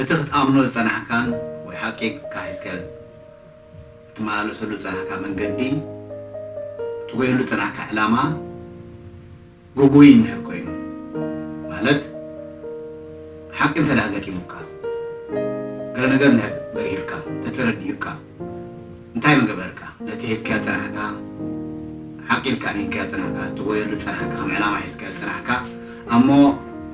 እቲ ክትኣምኖ ዝጸናሕካን ወይ ሓቂ ኢልካ ሒዝካዮ እትመላለሰሉ ዝጸናሕካ መንገዲ፣ እትጎየሉ ዝጸናሕካ ዕላማ ጉጉይ እንድሕር ኮይኑ፣ ማለት ሓቂ እንተድኣ ገጢሙካ፣ ገለ ነገር እንድሕር በሪሁልካ፣ እንተተረዲኡካ፣ እንታይ ምገበርካ ነቲ ሒዝካዮ ዝጸናሕካ ሓቒ ኢልካ ኣሚንካዮ ዝጸናሕካ ትጎየሉ ዝጸናሕካ ከም ዕላማ ሒዝካዮ ዝጸናሕካ ኣሞ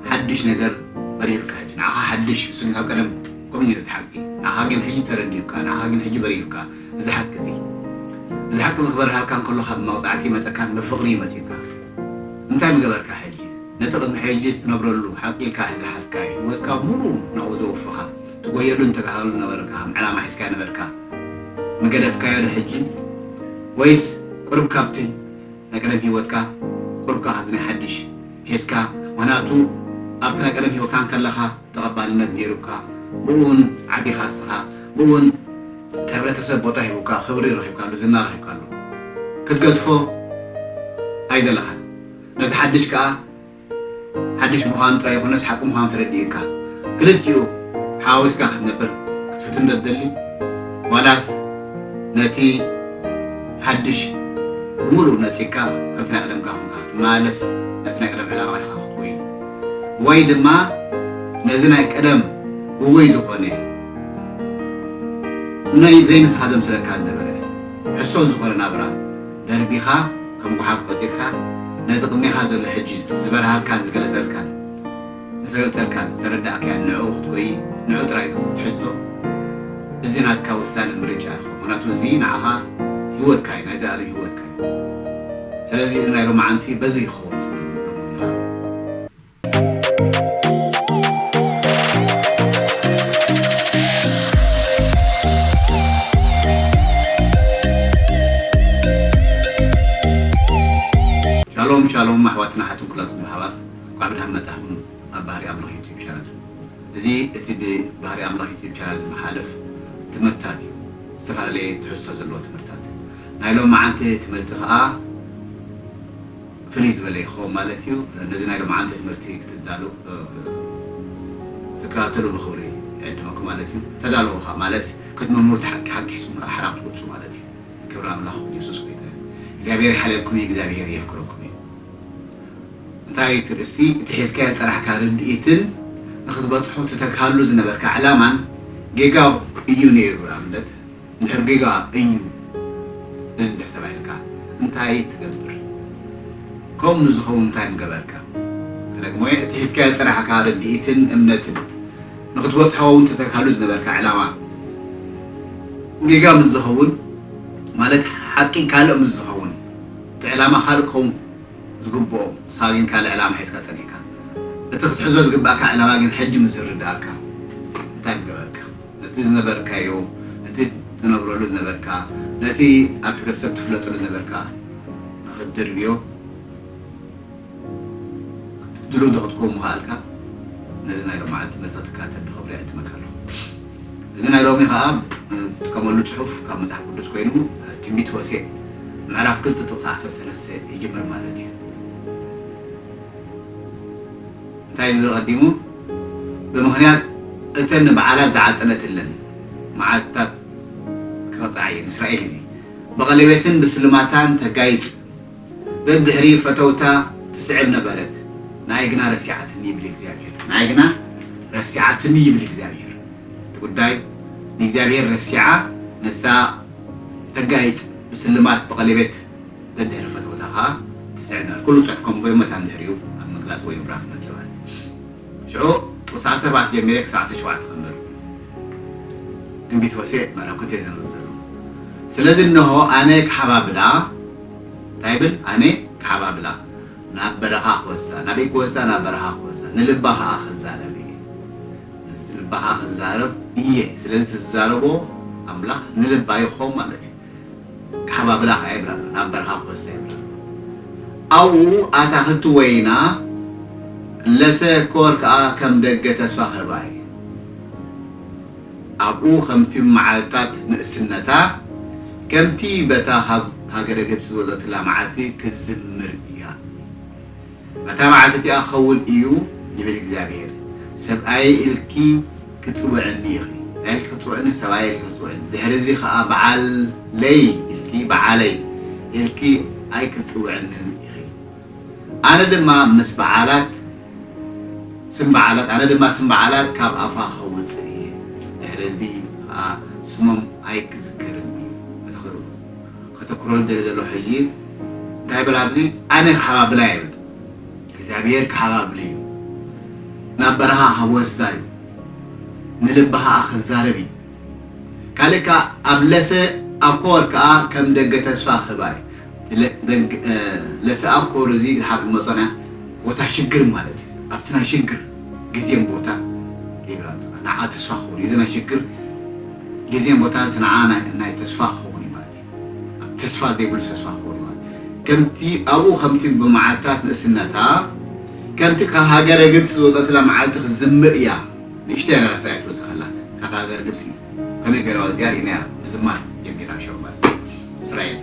ሓድሽ ነገር በሪሩካ ሕጂ ንዓኻ ሓድሽ ንሱ ግን ካብ ቀደም ከምኡ ኔሩ እቲ ሓቂ ንዓኻ ግን ሕጂ ተረዲኡካ ንዓኻ ግን ሕጂ በሪሩካ እዚ ሓቂ እዚ እዚ ሓቂ እዚ ክበርሃልካ እንከሎ ካብ መቕጻዕቲ ይመጸካን ናብ ፍቕሪ እዩ መጺኡካ እንታይ ምገበርካ ሕጂ ነቲ ቅድሚ ሕጂ ትነብረሉ ሓቒ ኢልካ ዝሓዝካዮ ሂወትካ ሙሉኡ ናብኡ ዘወፍኻ ትጎየሉ እንተጋሃሉ ነበርካ ከም ዕላማ ሒዝካዮ ነበርካ ምገደፍካዮ ዶ ሕጂ ወይስ ቁሩብ ካብቲ ናይ ቀደም ሂወትካ ቁሩብ ከኣ ካብዚ ናይ ሓድሽ ሒዝካ ምክንያቱ ኣብቲ ናይ ቀደም ሂወትካ እንከለካ ተቀባልነት ኔሩካ ብኡ ውን ዓቢካ እስኻ ብኡ ውን እቲ ሕብረተሰብ ቦታ ሂቡካ ክብሪ ረኪብካሉ ዝና ረኪብካሉ ክትገድፎ ኣይደለካን ነዚ ሓድሽ ከኣ ሓድሽ ምዃኑ ጥራይ ዘይኮነስ ሓቂ ምዃኑ ተረዲኡካ ክልቲኡ ሓዋዊስካ ክትነብር ክትፍትን ዶ ትደሊ ዋላስ ነቲ ሓድሽ ብምሉኡ ነጺግካ ከምቲ ናይ ቀደምካ ኰንካ ክትመላለስ ነቲ ናይ ቀደም ዕላማ ኢኻ ክትጎዪ ወይ ድማ ነዚ ናይ ቀደም ግጉይ ዝኾነ ንዘይንስኻ ዘምስለካ ዝነበረ ሕሶት ዝኾነ ናብራ ደርቢኻ ከም ጉሓፍ ቆጺርካ ነዚ ቅድሜኻ ዘሎ ሕጂ ዝበርሃልካን ዝገለጸልካን ዝተገልጸልካን ዝተረዳእካዮን ንዕኡ ክትጎዪ ንዑ ጥራይ ኢኹም ትሕዝቶ እዚ ናትካ ውሳነ ምርጫ ኢኹ ምኽንያቱ እዚ ንዓኻ ሂወትካ እዩ ናይ ዘልኣለም ሂወትካ እዩ ስለዚ እዚ ናይ ሎምዓንቲ በዚ ይኸውን ትብሎ ምብሎ ምንባር ሻሎም ሻሎም ኣሕዋትና ኣሓትን ኩላትኩም ብሓባር እንኳዕ ብድሓን መጻኹም ኣብ ባህሪ ኣምላኽ ዩቱብ ቻናል እዚ እቲ ብባህሪ ኣምላኽ ዩቱብ ቻናል ዝመሓለፍ ትምህርታት እዩ ዝተፈላለየ ትሕዝቶ ዘለዎ ትምህርታት ናይ ሎማዓንቲ ትምህርቲ ከኣ ፍልይ ዝበለ እዩ ክኸውን ማለት እዩ። ነዚ ናይ ሎምዓንቲ ትምህርቲ ክትዳሉ ክትከታተሉ ብክብሪ ይዕድመኩም ማለት እዩ። ተዳለዉ ከኣ ማለትስ ክትምርምሩ እቲ ሓቂ ሓቂ ሒዝኩም ከኣ ሓራ ክትወጹ ማለት እዩ። ክብሪ ኣምላኽ የሱስ ጎይታ እዩ። እግዚኣብሄር ይሓልየልኩም እዩ እግዚኣብሄር የፍቅረኩም እዩ። እንታይ እቲ ርእስቲ እቲ ሒዝካዮ ዝጸናሕካ ርድኢትን ንክትበጽሖ ትተግሃሉ ዝነበርካ ዕላማን ጌጋ እዩ ነይሩ ንኣብነት እንድሕር ጌጋ እዩ እዚ እንድሕር ተባሂልካ እንታይ ትገብር? ከምኡ ንዝኸውን እንታይ ምገበርካ? ክደግሞ'የ እቲ ሒዝካዮ ዝጸናሕካ ርድኢትን እምነትን ንኽትበጽሖ ውን ተተካሉ ዝነበርካ ዕላማ ጌጋ ምስ ዝኸውን ማለት ሓቂ ካልእ ምስ ዝኸውን እቲ ዕላማ ካልእ ክኸውን ዝግብኦ ንስኻ ግን ካልእ ዕላማ ሒዝካ ጸኒሕካ እቲ ክትሕዞ ዝግብኣካ ዕላማ ግን ሕጂ ምስ ዝርድኣካ እንታይ ምገበርካ? እቲ ዝነበርካዮ፣ እቲ ትነብረሉ ዝነበርካ፣ ነቲ ኣብ ሕብረተሰብ ትፍለጠሉ ዝነበርካ ንኽትድርብዮ ድሉው ዶ ክትከውን ምኸኣልካ? ነዚ ናይ ሎምዓንቲ ትምህርትኻ ትከታተል ዶ? ክብሪ እዕድመካ ኣለኹ። እዚ ናይ ሎሚ ኸኣ እትጥቀመሉ ጽሑፍ ካብ መጽሓፍ ቅዱስ ኮይኑ ትንቢት ሆሴእ ምዕራፍ ክልተ ጥቕሲ ዓሰርተ ሰለስተ ይጅምር ማለት እዩ። እንታይ ኢሉ ኣቐዲሙ ብምኽንያት እተን ንበዓላት ዝዓጠነትለን መዓልትታት ክቕጽዓ እየን እስራኤል እዚ ብቐሌቤትን ብስልማታን ተጋይጽ ደድሕሪ ፈተውታ ትስዕብ ነበረት ንኣይ ግና ረሲዓትኒ ይብል እግዚኣብሄር ንኣይ ግና ረሲዓትኒ ይብል እግዚኣብሄር እቲ ጉዳይ ንእግዚኣብሄር ረሲዓ ንሳ ተጋይጽ ብስልማት ብቐሌቤት ደድሕሪ ፈተውታ ከኣ ትስዕበል ኩሉ ጽሑፍኩም ብእመት ኣንድሕሪኡ ኣብ ምግላጽ ወይ ምብራኽ ነጥብታት ሽዑ ምስ ዓሰርተ-ኣርባዕተ ጀሚረ ክሳዕ ዓሰርተ ሸውዓተ ከንብብ ትንቢት ሆሴእ ምዕራፍ ክልተ ዘንብብ ዘለኹ ስለዚ እነሆ ኣነ ክሓባብላ እንታይ ይብል ኣነ ክሓባብላ ናብ በረኻ ክወስዳ ናበይ ክወስዳ ናብ በረኻ ክወስዳ ንልባ ከኣ ክዛረብ እየ ንልባ ከኣ ክዛረብ እየ ስለዚ እቲ ዝዛረቦ ኣምላኽ ንልባ ይኾን ማለት እዩ ቃሕባ ብላኽ ኣይብላሉን ኣብ በርኻ ክወስድ ኣይብላሉን ኣብኡ ኣታኽልቲ ወይና ለሰ ኮር ከኣ ከም ደገ ተስፋ ክህባ እየ ኣብኡ ከምቲ መዓልታት ንእስነታ ከምቲ በታ ካብ ሃገረ ግብጺ ዝወጸትላ መዓልቲ ክትዝምር እያ። ኣታ መዓልቲ እቲኣ ክኸውን እዩ ይብል እግዚኣብሄር፣ ሰብኣየይ ኢልኪ ክትጽውዕኒ ኢኺ፣ እንታይ ኢልኪ ክትጽውዕኒ፣ ሰብኣየይ ኢልኪ ክትጽውዕኒ፣ ድሕርዚ ኸኣ በዓለይ ኢልኪ፣ በዓለይ፣ ኢልኪ ኣይክትጽውዕንን ኢኺ፣ ኣነ ድማ ምስ በዓላት፣ ስም በዓላት፣ ኣነ ድማ ስም በዓላት ካብ ኣፋ ኸውጽእ እየ፣ ድሕርዚ ኸኣ ስሞም ኣይክዝከርን እዩ። ከተኩሮ ዝደሊ ዘሎ ሕጂ እንታይ በል ኣብዚ ኣነ ክሓብ ኣብላ እየ በል እግዚኣብሄር ክሓብ ኣብሊ እዩ ናብ በረኻ ከወስዳ እዩ ንልባ ከኣ ክዛረብ እዩ ካልእ ከኣ ኣብ ለሰ ኣኮር ከኣ ከም ደገ ተስፋ ክህባ እዩ ለሰ ኣኮር እዚ ዝሓር ክመጾና ቦታ ሽግር ማለት እዩ ኣብቲ ናይ ሽግር ግዜን ቦታን ይብል ኣሎ እባ ንዓ ተስፋ ክኸውን እዩ እዚ ናይ ሽግር ግዜን ቦታንስ ንዓ ናይ ተስፋ ክኸውን እዩ ማለት እዩ ኣብ ተስፋ ዘይብሉ ተስፋ ክኸውን እዩ ማለት ከምቲ ኣብኡ ከምቲ ብመዓልታት ንእስነታ ከምቲ ካብ ሃገረ ግብፂ ዝወፀትላ መዓልቲ ክትዝምር እያ ንእሽተይ ኣነራሳ እያ ትወፅእ ከላ ካብ ሃገር ግብፂ ከመይ ገረዋ እዚኣ ሪእናያ ምዝማር ጀሚራ ሸው ማለት እዩ እስራኤል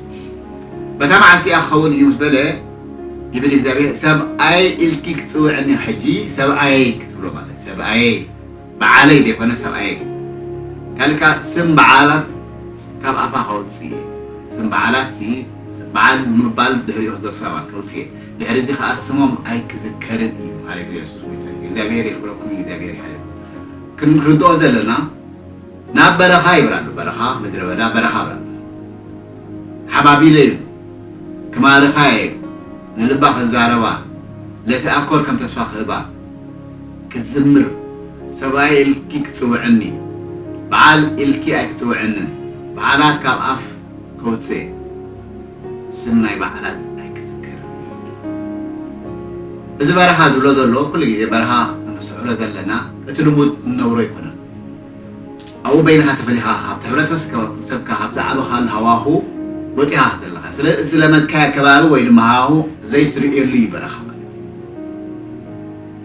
በታ መዓልቲ እያ ክኸውን እዩ ምስ በለ ይብል እግዚኣብሔር ሰብኣይ ኢልኪ ክትፅውዕኒ ሕጂ ሰብኣየይ ክትብሎ ማለት ሰብኣየይ በዓለይ ዘይኮነ ሰብኣየይ ካልእ ከዓ ስም በዓላት ካብ ኣፋ ከውፅእ እየ ስም በዓላት ሲ በዓል ምባል ድሕሪኡ ክገድፎ እያ ማለት ከውፅእ እየ ድሕሪ እዚ ከዓ ስሞም ኣይክዝከርን እዩ ሃሌሉያ የሱስ ጎይታ እዩ እግዚኣብሔር የኽብረኩም እግዚኣብሔር ይሓልኩም ክንርድኦ ዘለና ናብ በረኻ ይብራሉ በረኻ ምድረ በዳ በረኻ ብራሉ ሓባቢለ ኢሉ ክማርኻ እየ ኢሉ ንልባ ክዛረባ ለፊ ኣኮር ከም ተስፋ ክህባ ክትዝምር ሰብኣይ ኢልኪ ክትጽውዕኒ በዓል ኢልኪ ኣይትጽውዕንን በዓላት ካብ ኣፍ ከውጽእ ስም ናይ በዓላት ኣይክዝክርን እየ እዚ በረኻ ዝብሎ ዘሎ ኩሉ ግዜ በረኻ ክንስዕሮ ዘለና እቲ ልሙድ እንነብሮ ኣይኮነን። ኣብኡ በይንኻ ተፈሊኻ ካብ ሕብረተሰብካ ካብ ዝዓበኻሉ ሃዋሁ ወጺኻ ክትዘለኻ ስለ እቲ ዝለመድካዮ ከባቢ ወይ ድማ ሃዋሁ ዘይትርእየሉ እዩ በረኻ ማለት እዩ።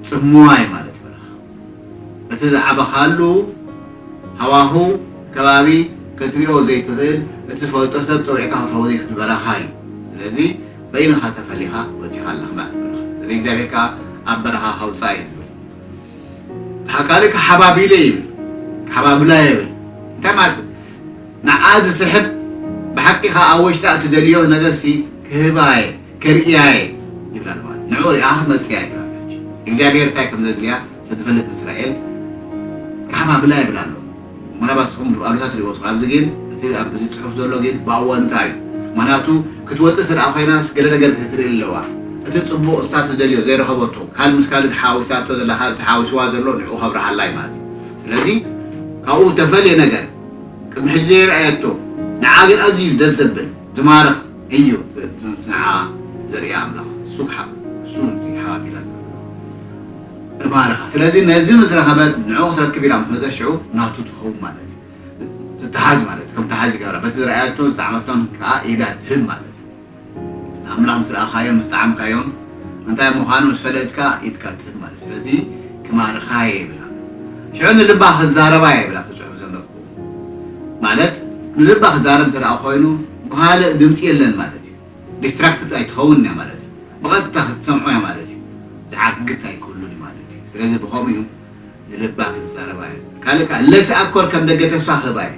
ጽምዋይ ማለት በረኻ እቲ ዝዓበኻሉ ሃዋሁ ከባቢ ክትሪኦ ዘይትኽእል እትፈልጦ ሰብ ጸዊዕካ ክትረኽቦ ዘይትኽእል በረኻ እዩ። ስለዚ በይንኻ ተፈሊኻ ወጺኻ ኣለኻ ማለት እዩ በረኻ። ስለዚ እግዚኣብሄር ከኣ ኣብ በረኻ ከውጽኣ እዩ ዝብል። ሃቃሊ ክሓባቢለ ይብል ክሓባብላ የብል እንታይ ማለት ንዓ ዝስሕብ ብሓቂ ከኣ ኣብ ወሽጣ እትደልዮ ነገር ሲ ክህባ እየ ከርእያ እየ ይብላ ኣለዋ ንዑ ሪኣ ክትመጽእ እያ ይብላ እግዚኣብሔር እንታይ ከም ዘድልያ ሰትፈልጥ ንእስራኤል ክሓባብላ ይብል ኣሎ ምናልባት ንስኹም ብኣሉታ ትሪእዎ ትኽእሉ፣ ኣብዚ ግን እቲ ኣብዚ ፅሑፍ ዘሎ ግን ብኣወንታ እዩ። ምኽንያቱ ክትወፅእ እንተድኣ ኮይናስ ገለ ነገር ክትርኢ ኣለዋ። እቲ ፅቡቕ ንሳ ትደልዮ ዘይረኸበቶ ካልእ ምስ ካልእ ተሓዋዊሳቶ ዘላ ካልእ ተሓዋዊስዋ ዘሎ ንዕኡ ከብርሃላ እዩ ማለት እዩ። ስለዚ ካብኡ እተፈልየ ነገር ቅድሚ ሕጂ ዘይርኣየቶ ንዓ ግን ኣዝዩ ደስ ዘብል ዝማርኽ እዩ እቲ ንዓ ዘርእያ ኣምላኽ ንሱ ክሓብ ንሱ እዩ ሓባቢላ ዝብል እባርኻ ስለዚ ነዚ ምስ ረኸበት ንዑ ክትረክብ ኢላ ምስ መጸት ሽዑ ናቱ ትኸውን ማለት እዩ ትተሓዝ ማለት እዩ ከም ተሓዝ ይገብራ በቲ ዝረኣየቶን ዝጠዓመቶን ከኣ ኢዳ ትህብ ማለት እዩ ንኣምላኽ ምስ ረኣኻዮን ምስ ጠዓምካዮን እንታይ ምዃኑ ምስ ፈለጥካ ኢድካ ትህብ ማለት እዩ ስለዚ ክማርኻ እየ ይብላ ሽዑ ንልባ ክዛረባ እየ ይብላ ትጽሑፍ ዘንበብኩ ማለት ንልባ ክዛረብ እንተ ኮይኑ ብኻልእ ድምጺ የለን ማለት እዩ ዲስትራክትድ ኣይትኸውንን እያ ማለት እዩ። ብቐጥታ ክትሰምዖ እያ ማለት እዩ። ዝዓግት ኣይክህሉን እዩ ማለት እዩ። ስለዚ ብኸምኡ እዩ ንልባ ክትዛረባ እያ ዝብል። ካልእ ከኣ ለስ ኣኮር ከም ደገ ተስፋ ክህባ እየ።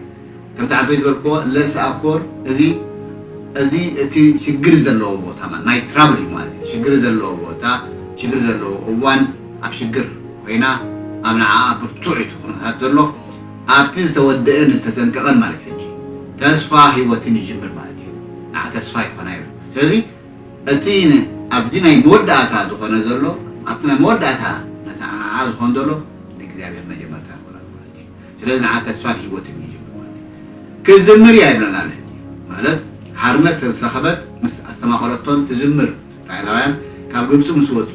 ከምቲ ሓንቶ ዝበልክዎ ለስ ኣኮር እዚ እዚ እቲ ሽግር ዘለዎ ቦታ ማለት ናይ ትራብል እዩ ማለት እዩ። ሽግር ዘለዎ ቦታ ሽግር ዘለዎ እዋን ኣብ ሽግር ኮይና ኣብ ንዓኣ ብርቱዕ እዩ እቲ ኩነታት ዘሎ። ኣብቲ ዝተወደእን ዝተጸንቀቐን ማለት ሕጂ ተስፋ ህይወትን ይጅምር ማለት እዩ። ንዓ ተስፋ ይኾና ይብል። ስለዚ እቲ ኣብዚ ናይ መወዳእታ ዝኾነ ዘሎ ኣብቲ ናይ መወዳእታ ነታ ንዓኣ ዝኾን ዘሎ ንእግዚኣብሔር መጀመርታ ይኾና ኣሎ ማለት እዩ። ስለዚ ንዓ ተስፋን ህይወትን ይጅምር ማለት እዩ። ክትዝምር እያ ይብለና ኣሎ ሕጂ ማለት ሓርነት ስለ ዝረኸበት ምስ ኣስተማቐረቶን ትዝምር እስራኤላውያን ካብ ግብጺ ምስ ወጹ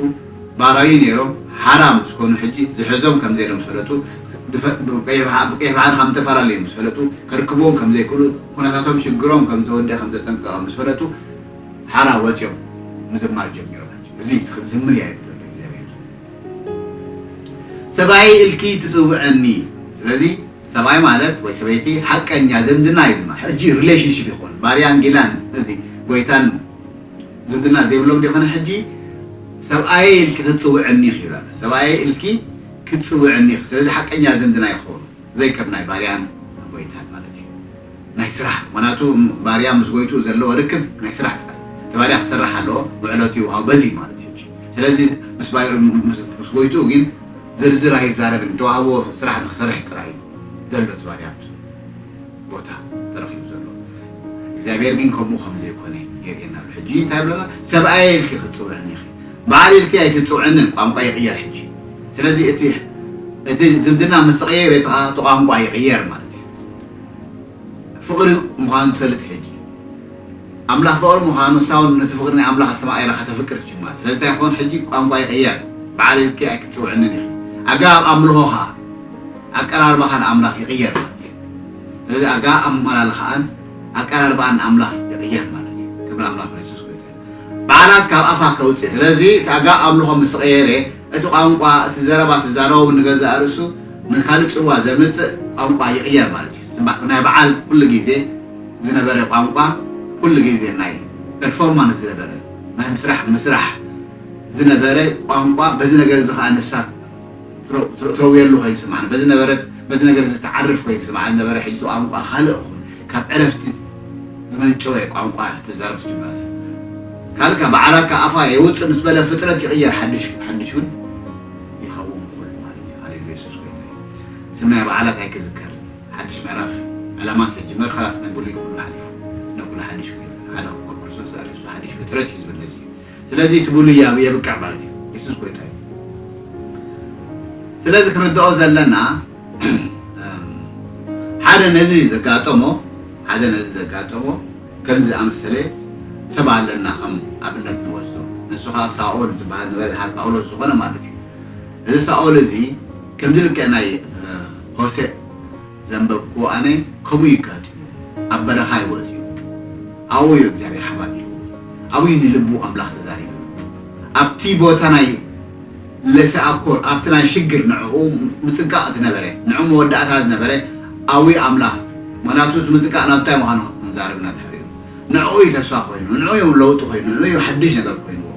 ባራዩ ኔሮም ሓራ ምስ ኮኑ ሕጂ ዝሕዞም ከም ዘየሎም ምስ ፈለጡ ብቀይሕ ባሕሪ ከም ዝተፈላለዩ ምስ ፈለጡ ከርክብዎም ከም ዘይክእሉ ኩነታቶም ሽግሮም ከም ዝተወድኣ ከም ዘጠንቀቀ ምስ ፈለጡ ሓራ ወጽዮም ምዝማር ጀሚሮም ሕጂ እዚ እዩ ክትዝምር እያ ይብል ዘሎ እግዚኣብሄር ሰብኣየይ እልኪ ትጽውዕኒ ስለዚ ሰብኣይ ማለት ወይ ሰበይቲ ሓቀኛ ዝምድና እዩ ዝማ ሕጂ ሪሌሽንሺፕ ይኮን ባርያን ጊላን እዚ ጎይታን ዝምድና ዘይብሎም ዲኺ ንሕጂ ሰብኣየይ ኢልኪ ክትጽውዕኒ ኢኺ ኢላ ሰብኣየይ ኢልኪ ክትጽውዕኒ ኢኺ ስለዚ ሓቀኛ ዝምድና ይኸውን ዘይከም ናይ ባርያን ጎይታን ማለት እዩ ናይ ስራሕ ምክንያቱ ባርያ ምስ ጎይትኡ ዘለዎ ርክብ ናይ ስራሕ ጥራይ እቲ ባርያ ክሰርሕ ኣለዎ ውዕለቱ ይውሃው በዚ ማለት ስለዚ ምስ ምስ ጎይትኡ ግን ዝርዝር ኣይዛረብን ተዋህቦ ስራሕ ንክሰርሕ ጥራይ ዘሎ እቲ ባርያ ቦታ ተረኺቡ ዘሎ እግዚኣብሔር ግን ከምኡ ከም ዘይኮነ የርእየና ኣሎ ሕጂ እንታይ ይብለና ሰብኣየ ኢልኪ ክትፅውዕኒ ኢኺ በዓል ኢልኪ ኣይትፅውዕንን ቋንቋ ይቕየር ሕጂ ስለዚ እቲ እቲ ዝምድና ምስ ተቐየረ እቲ ከዓ እቲ ቋንቋ ይቕየር ማለት እዩ ፍቕሪ ምዃኑ ትፈልጥ ሕጂ ኣምላኽ ፍቕሪ ምዃኑ ሳውን ነቲ ፍቕሪ ናይ ኣምላኽ ኣስተማቒራ ከተፍቅር ትጅማ ስለዚ እንታይ ክኾን ሕጂ ቋንቋ ይቕየር በዓል ኢልኪ ኣይክትፅውዕንን ኢኺ ኣገባብ ኣምልኾ ከዓ ኣቀራርባኻ ንኣምላኽ ይቕየር ማለት እዩ። ስለዚ ኣጋ ኣመላልኻኣን ኣቀራርባኣን ንኣምላኽ ይቕየር ማለት እዩ። ክብሪ ኣምላኽና የሱስ ጎይታ እዩ። በዓላት ካብ ኣፋ ከውጽእ ስለዚ እቲ ኣጋ ኣምልኾ ምስ ቐየረ እቲ ቋንቋ እቲ ዘረባ እቲ ዛረቦ ውን ንገዛእ ርእሱ ንካልእ ጽልዋ ዘምጽእ ቋንቋ ይቕየር ማለት እዩ። ጽባሕ ናይ በዓል ኩሉ ግዜ ዝነበረ ቋንቋ ኩሉ ግዜ ናይ ፐርፎርማንስ ዝነበረ ናይ ምስራሕ ምስራሕ ዝነበረ ቋንቋ በዚ ነገር እዚ ከኣ ንሳ ትረውየሉ ኮይኑ ዝስምዓኒ በዚ ነበረት በዚ ነገር እዚ ትዓርፍ ኮይኑ ዝስምዓኒ ነበረ ሕጂ እቲ ቋንቋ ካልእ ኮይኑ ካብ ዕረፍቲ ዝመንጨወ ቋንቋ ትዛረብ ትጅምራ ሰብ ካልእ ካብ በዓላት ካብ ኣፋ የውፅእ ምስ በለ ፍጥረት ይቕየር ሓድሽ ሓድሽ እውን ይኸውን ኩሉ ማለት እዩ ሃሌሉያ የሱስ ጎይታ እዩ ስናይ በዓላት ኣይክዝከር ሓድሽ ምዕራፍ ዕላማ ሰጅመር ከላስ ናይ ብሉይ ኩሉ ሓሊፉ ነኩሉ ሓድሽ ኮይኑ ሓደ ክርስቶስ ዛሬ እሱ ሓድሽ ፍጥረት እዩ ዝብል ነዚ እዩ ስለዚ እቲ ብሉይ ኣብ የብቅዕ ማለት እዩ የሱስ ጎይታ እዩ ስለዚ ክንርድኦ ዘለና ሓደ ነዚ ዘጋጠሞ ሓደ ነዚ ዘጋጠሞ ከምዚ ዝኣመሰለ ሰብ ኣለና ከም ኣብነት ንወስዶ ንሱ ከዓ ሳኦል ዝበሃል ነበረ ዝሓር ጳውሎስ ዝኾነ ማለት እዩ እዚ ሳኦል እዚ ከምዚ ልክዕ ናይ ሆሴእ ዘንበብክዎ ኣነ ከምኡ እዩ ኣጋጢሙ ኣብ በረኻ እዩ ወጺኡ ኣብኡ እዩ እግዚኣብሔር ሓባቢልዎ ኣብኡ እዩ ንልቡ ኣምላኽ ተዛሪብሉ ኣብቲ ቦታ ናይ ለሰኣኮር ኣብቲ ናይ ሽግር ንዕኡ ምጽንቃቕ ዝነበረ ንዕኡ መወዳእታ ዝነበረ ኣብኡ ኣምላኽ ምክንያቱ እቲ ምጽንቃቕ ናቱ እንታይ ምዃኑ ክንዛረብና ድሕሪኡ ንዕኡ እዩ ተስፋ ኮይኑ፣ ንዕኡ እዩ ለውጢ ኮይኑ፣ ንዕኡ እዩ ሓድሽ ነገር ኮይንዎ።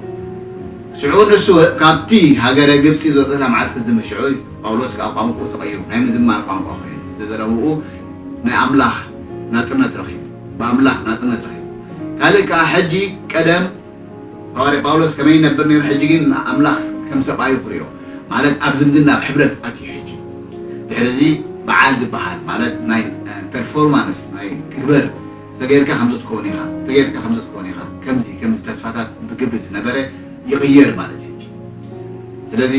ሽዑ ንሱ ካብቲ ሃገረ ግብጺ ዝወጸ ክሳብ መዓልቲ ክዝምር ሽዑ እዩ ጳውሎስ ከኣ ቋንቁኡ ተቐይሩ ናይ ምዝማር ቋንቋ ኮይኑ ዘዘረብኡ ናይ ኣምላኽ ናጽነት ረኺቡ ብኣምላኽ ናጽነት ረኺቡ ካልእ ከኣ ሕጂ ቀደም ሃዋርያ ጳውሎስ ከመይ ይነብር ነይሩ ሕጂ ግን ንኣምላኽ ከም ሰብኣዩ ክሪኦ ማለት ኣብ ዝምድና ኣብ ሕብረት ኣትዩ ሕጂ ድሕሪ እዚ በዓል ዝበሃል ማለት ናይ ፐርፎርማንስ ናይ ክግበር ተገይርካ ከምዚ ትከውን ኢካ ተገይርካ ከምዚ ትከውን ኢካ ከምዚ ከምዚ ተስፋታት ብግብሪ ዝነበረ ይቅየር ማለት እዩ እንጂ ስለዚ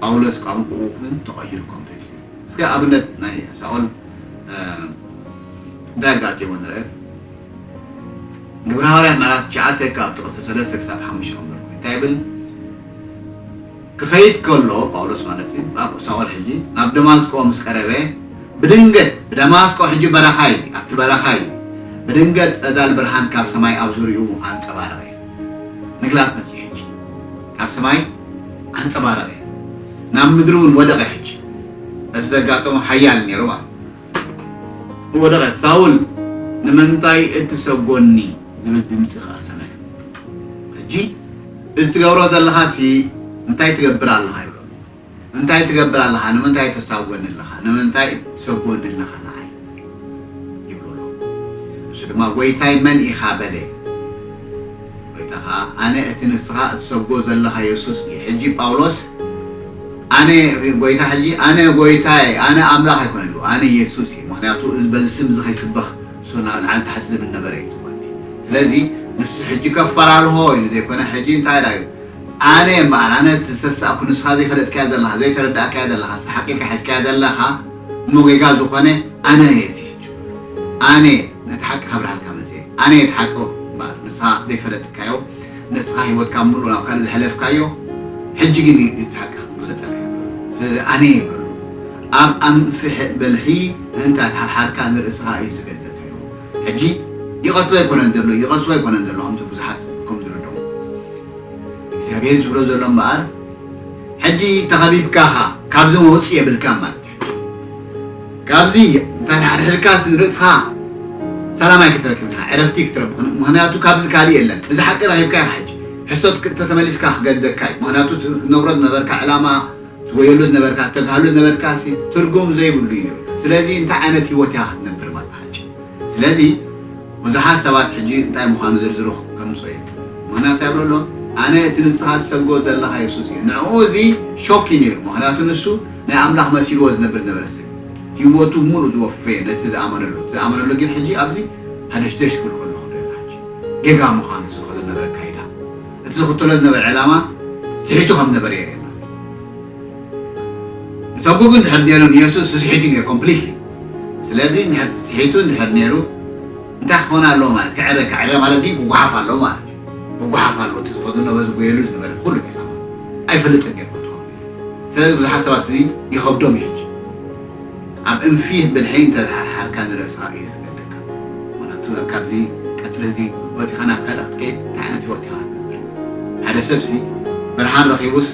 ጳውሎስ ቋንቁኡ ን ተቀይሩ ኮምፕሊትሊ እስከ ኣብነት ናይ ሳኦል እንታይ ኣጋጢሞ ንርእ ግብረ ሃዋርያት ምዕራፍ ትሽዓተ ካብ ጥቅሲ ሰለስተ ክሳብ ሓሙሽተ ክንበርኩ እንታይ ይብል ክኸይድ ከሎ፣ ጳውሎስ ማለት እዩ፣ ናብ ሳኦል ሕጂ ናብ ደማስቆ ምስ ቀረበ፣ ብድንገት፣ ብደማስቆ ሕጂ በረኻ እዩ፣ ኣብቲ በረኻ እዩ፣ ብድንገት ጸዳል ብርሃን ካብ ሰማይ ኣብ ዙርያኡ ኣንጸባረቐ። ምግላጽ መጺኡ ሕጂ። ካብ ሰማይ ኣንጸባረቐ፣ ናብ ምድሪ እውን ወደቐ ሕጂ። በቲ ዘጋጠሞ ሓያል ነይሩ ማለት እዩ። ዝወደቐ ሳውል ንምንታይ እትሰጎኒ ዝብል ድምጺ ኸኣ ሰምዐ። ሕጂ እዚ ትገብሮ ዘለኻሲ እንታይ ትገብር ኣለኻ? ይብሎ። እንታይ ትገብር ኣለኻ? ንምንታይ ተሳጎኒ ኣለኻ? ንምንታይ እትሰጎኒ ኣለኻ ንዓይ? ይብሎ ኣሎ። ንሱ ድማ ጐይታይ መን ኢኻ? በለ። ጐይታ ኸኣ ኣነ እቲ ንስኻ እትሰብጎ ዘለኻ የሱስ እየ። ሕጂ ጳውሎስ ኣነ ጐይታ ሕጂ ኣነ ጐይታየ ኣነ ኣምላኽ ኣይኮነን ኢሉ ኣነ የሱስ እየ ምኽንያቱ በዚ ስም እዚ ከይስበኽ ንሱ ናብ ላዕሊ ታሕቲ ዝብል ነበረ ኢዩ ትብልቲ ስለዚ ንሱ ሕጂ ከፈላልሆ ኢሉ ዘይኮነ ሕጂ እንታይ ዳዩ ኣነ እምበኣር ኣነ እቲ ዝተሳእኩ ንስኻ ዘይፈለጥካዮ ዘለኻ ዘይተረዳእካዮ ዘለኻ ሰሓቂልካ ሒዝካዮ ዘለኻ እሞ ጌጋ ዝኾነ ኣነ እየ እዚ ሕጂ ኣነ ነቲ ሓቂ ከብርሃልካ መጽየ ኣነየ እቲ ሓቂ እምበኣር ንስኻ ዘይፈለጥካዮ ንስኻ ሂወትካ ብምሉኡ ናብ ካልእ ዘሕለፍካዮ ሕጂ ግን እዩ እቲ ሓቂ ክግለጸልካ ይብሎ ስለዚ ኣነየ በሎ ኣብ ኣንፍሕ በልሒ ምእንቲ ኣይትሓርሓርካ ንርእስኻ እዩ ዝገደፈዮ ሕጂ ይቀትሎ ኣይኮነን ዘሎ ይቀትሎ ኣይኮነን ዘሎ ከምቲ ብዙሓት ከም ዝርድኦ እግዚኣብሔር ዝብሎ ዘሎ እምበኣር ሕጂ ተኸቢብካኻ ካብዚ መውጽኢ የብልካን ማለት እዩ ካብዚ እንተሓድሕድካስ ንርእስኻ ሰላም ኣይክትረክብን ኢኻ፣ ዕረፍቲ ክትረብኽን፣ ምኽንያቱ ካብዚ ካልእ የለን። እዚ ሓቂ ረኺብካዮ ኢኻ ሕጂ። ሕሶት እንተተመሊስካ ክገድደካ እዩ፣ ምኽንያቱ እቲ ክትነብሮ ዝነበርካ ዕላማ፣ ትጎየሉ ዝነበርካ፣ እተግሃሉ ዝነበርካሲ ትርጉም ዘይብሉ እዩ ነይሩ። ስለዚ እንታይ ዓይነት ህይወት ኢኻ ክትነብር ማለት ብሓጺሩ። ስለዚ ብዙሓት ሰባት ሕጂ እንታይ ምዃኑ ዝርዝሩ ከምጽኦ እየ፣ ምኽንያቱ እንታይ ይብሉ ኣለዉ፣ ኣነ እቲ ንስኻ ትሰብጎ ዘለኻ የሱስ እየ። ንዕኡ እዚ ሾክ እዩ ነይሩ፣ ምኽንያቱ ንሱ ናይ ኣምላኽ መሲልዎ ዝነብር ዝነበረ ሰብ ሂወቱ ምሉእ ዝወፈየ ነቲ ዝኣመነሉ እቲ ዝኣመነሉ ግን ሕጂ ኣብዚ ሃደሽደሽ ክብል ከሎ ክንሪኦ ኢና ሕጂ ጌጋ ምዃኑ እቲ ዝኸዶ ዝነበረ ኣካይዳ እቲ ዝኽተሎ ዝነበረ ዕላማ ስሒቱ ከም ዝነበረ የርእየና ንሰቡ ግን ድሕር ነይሩ ንየሱስ ስስሒቱ ነይሩ ኮምፕሊትሊ ስለዚ እንድሕር ስሒቱ እንድሕር ነይሩ እንታይ ክኾን ኣለዎ ማለት ክዕረ ክዕረ ማለት ግን ክጓሓፍ ኣለዎ ማለት እዩ ክጓሓፍ ኣለዎ እቲ ዝኸዶ ነበረ ዝጎየሉ ዝነበረ ኩሉ ዕላማ ኣይፈልጥን ገ ስለዚ ብዙሓት ሰባት እዚ ይኸብዶም እዩ ሕጂ ኣብ እንፊህ ብልሒ እንተተሓርሓርካ ንርእስኻ እዩ ዝገደካ ምኽንያቱ ካብዚ ቀጽሪ እዚ ወጺኻ ናብ ካልእ ክትከይድ እንታይ ዓይነት ሂወት ኢኻ ክትነብር ሓደ ሰብሲ ብርሃን ረኺቡስ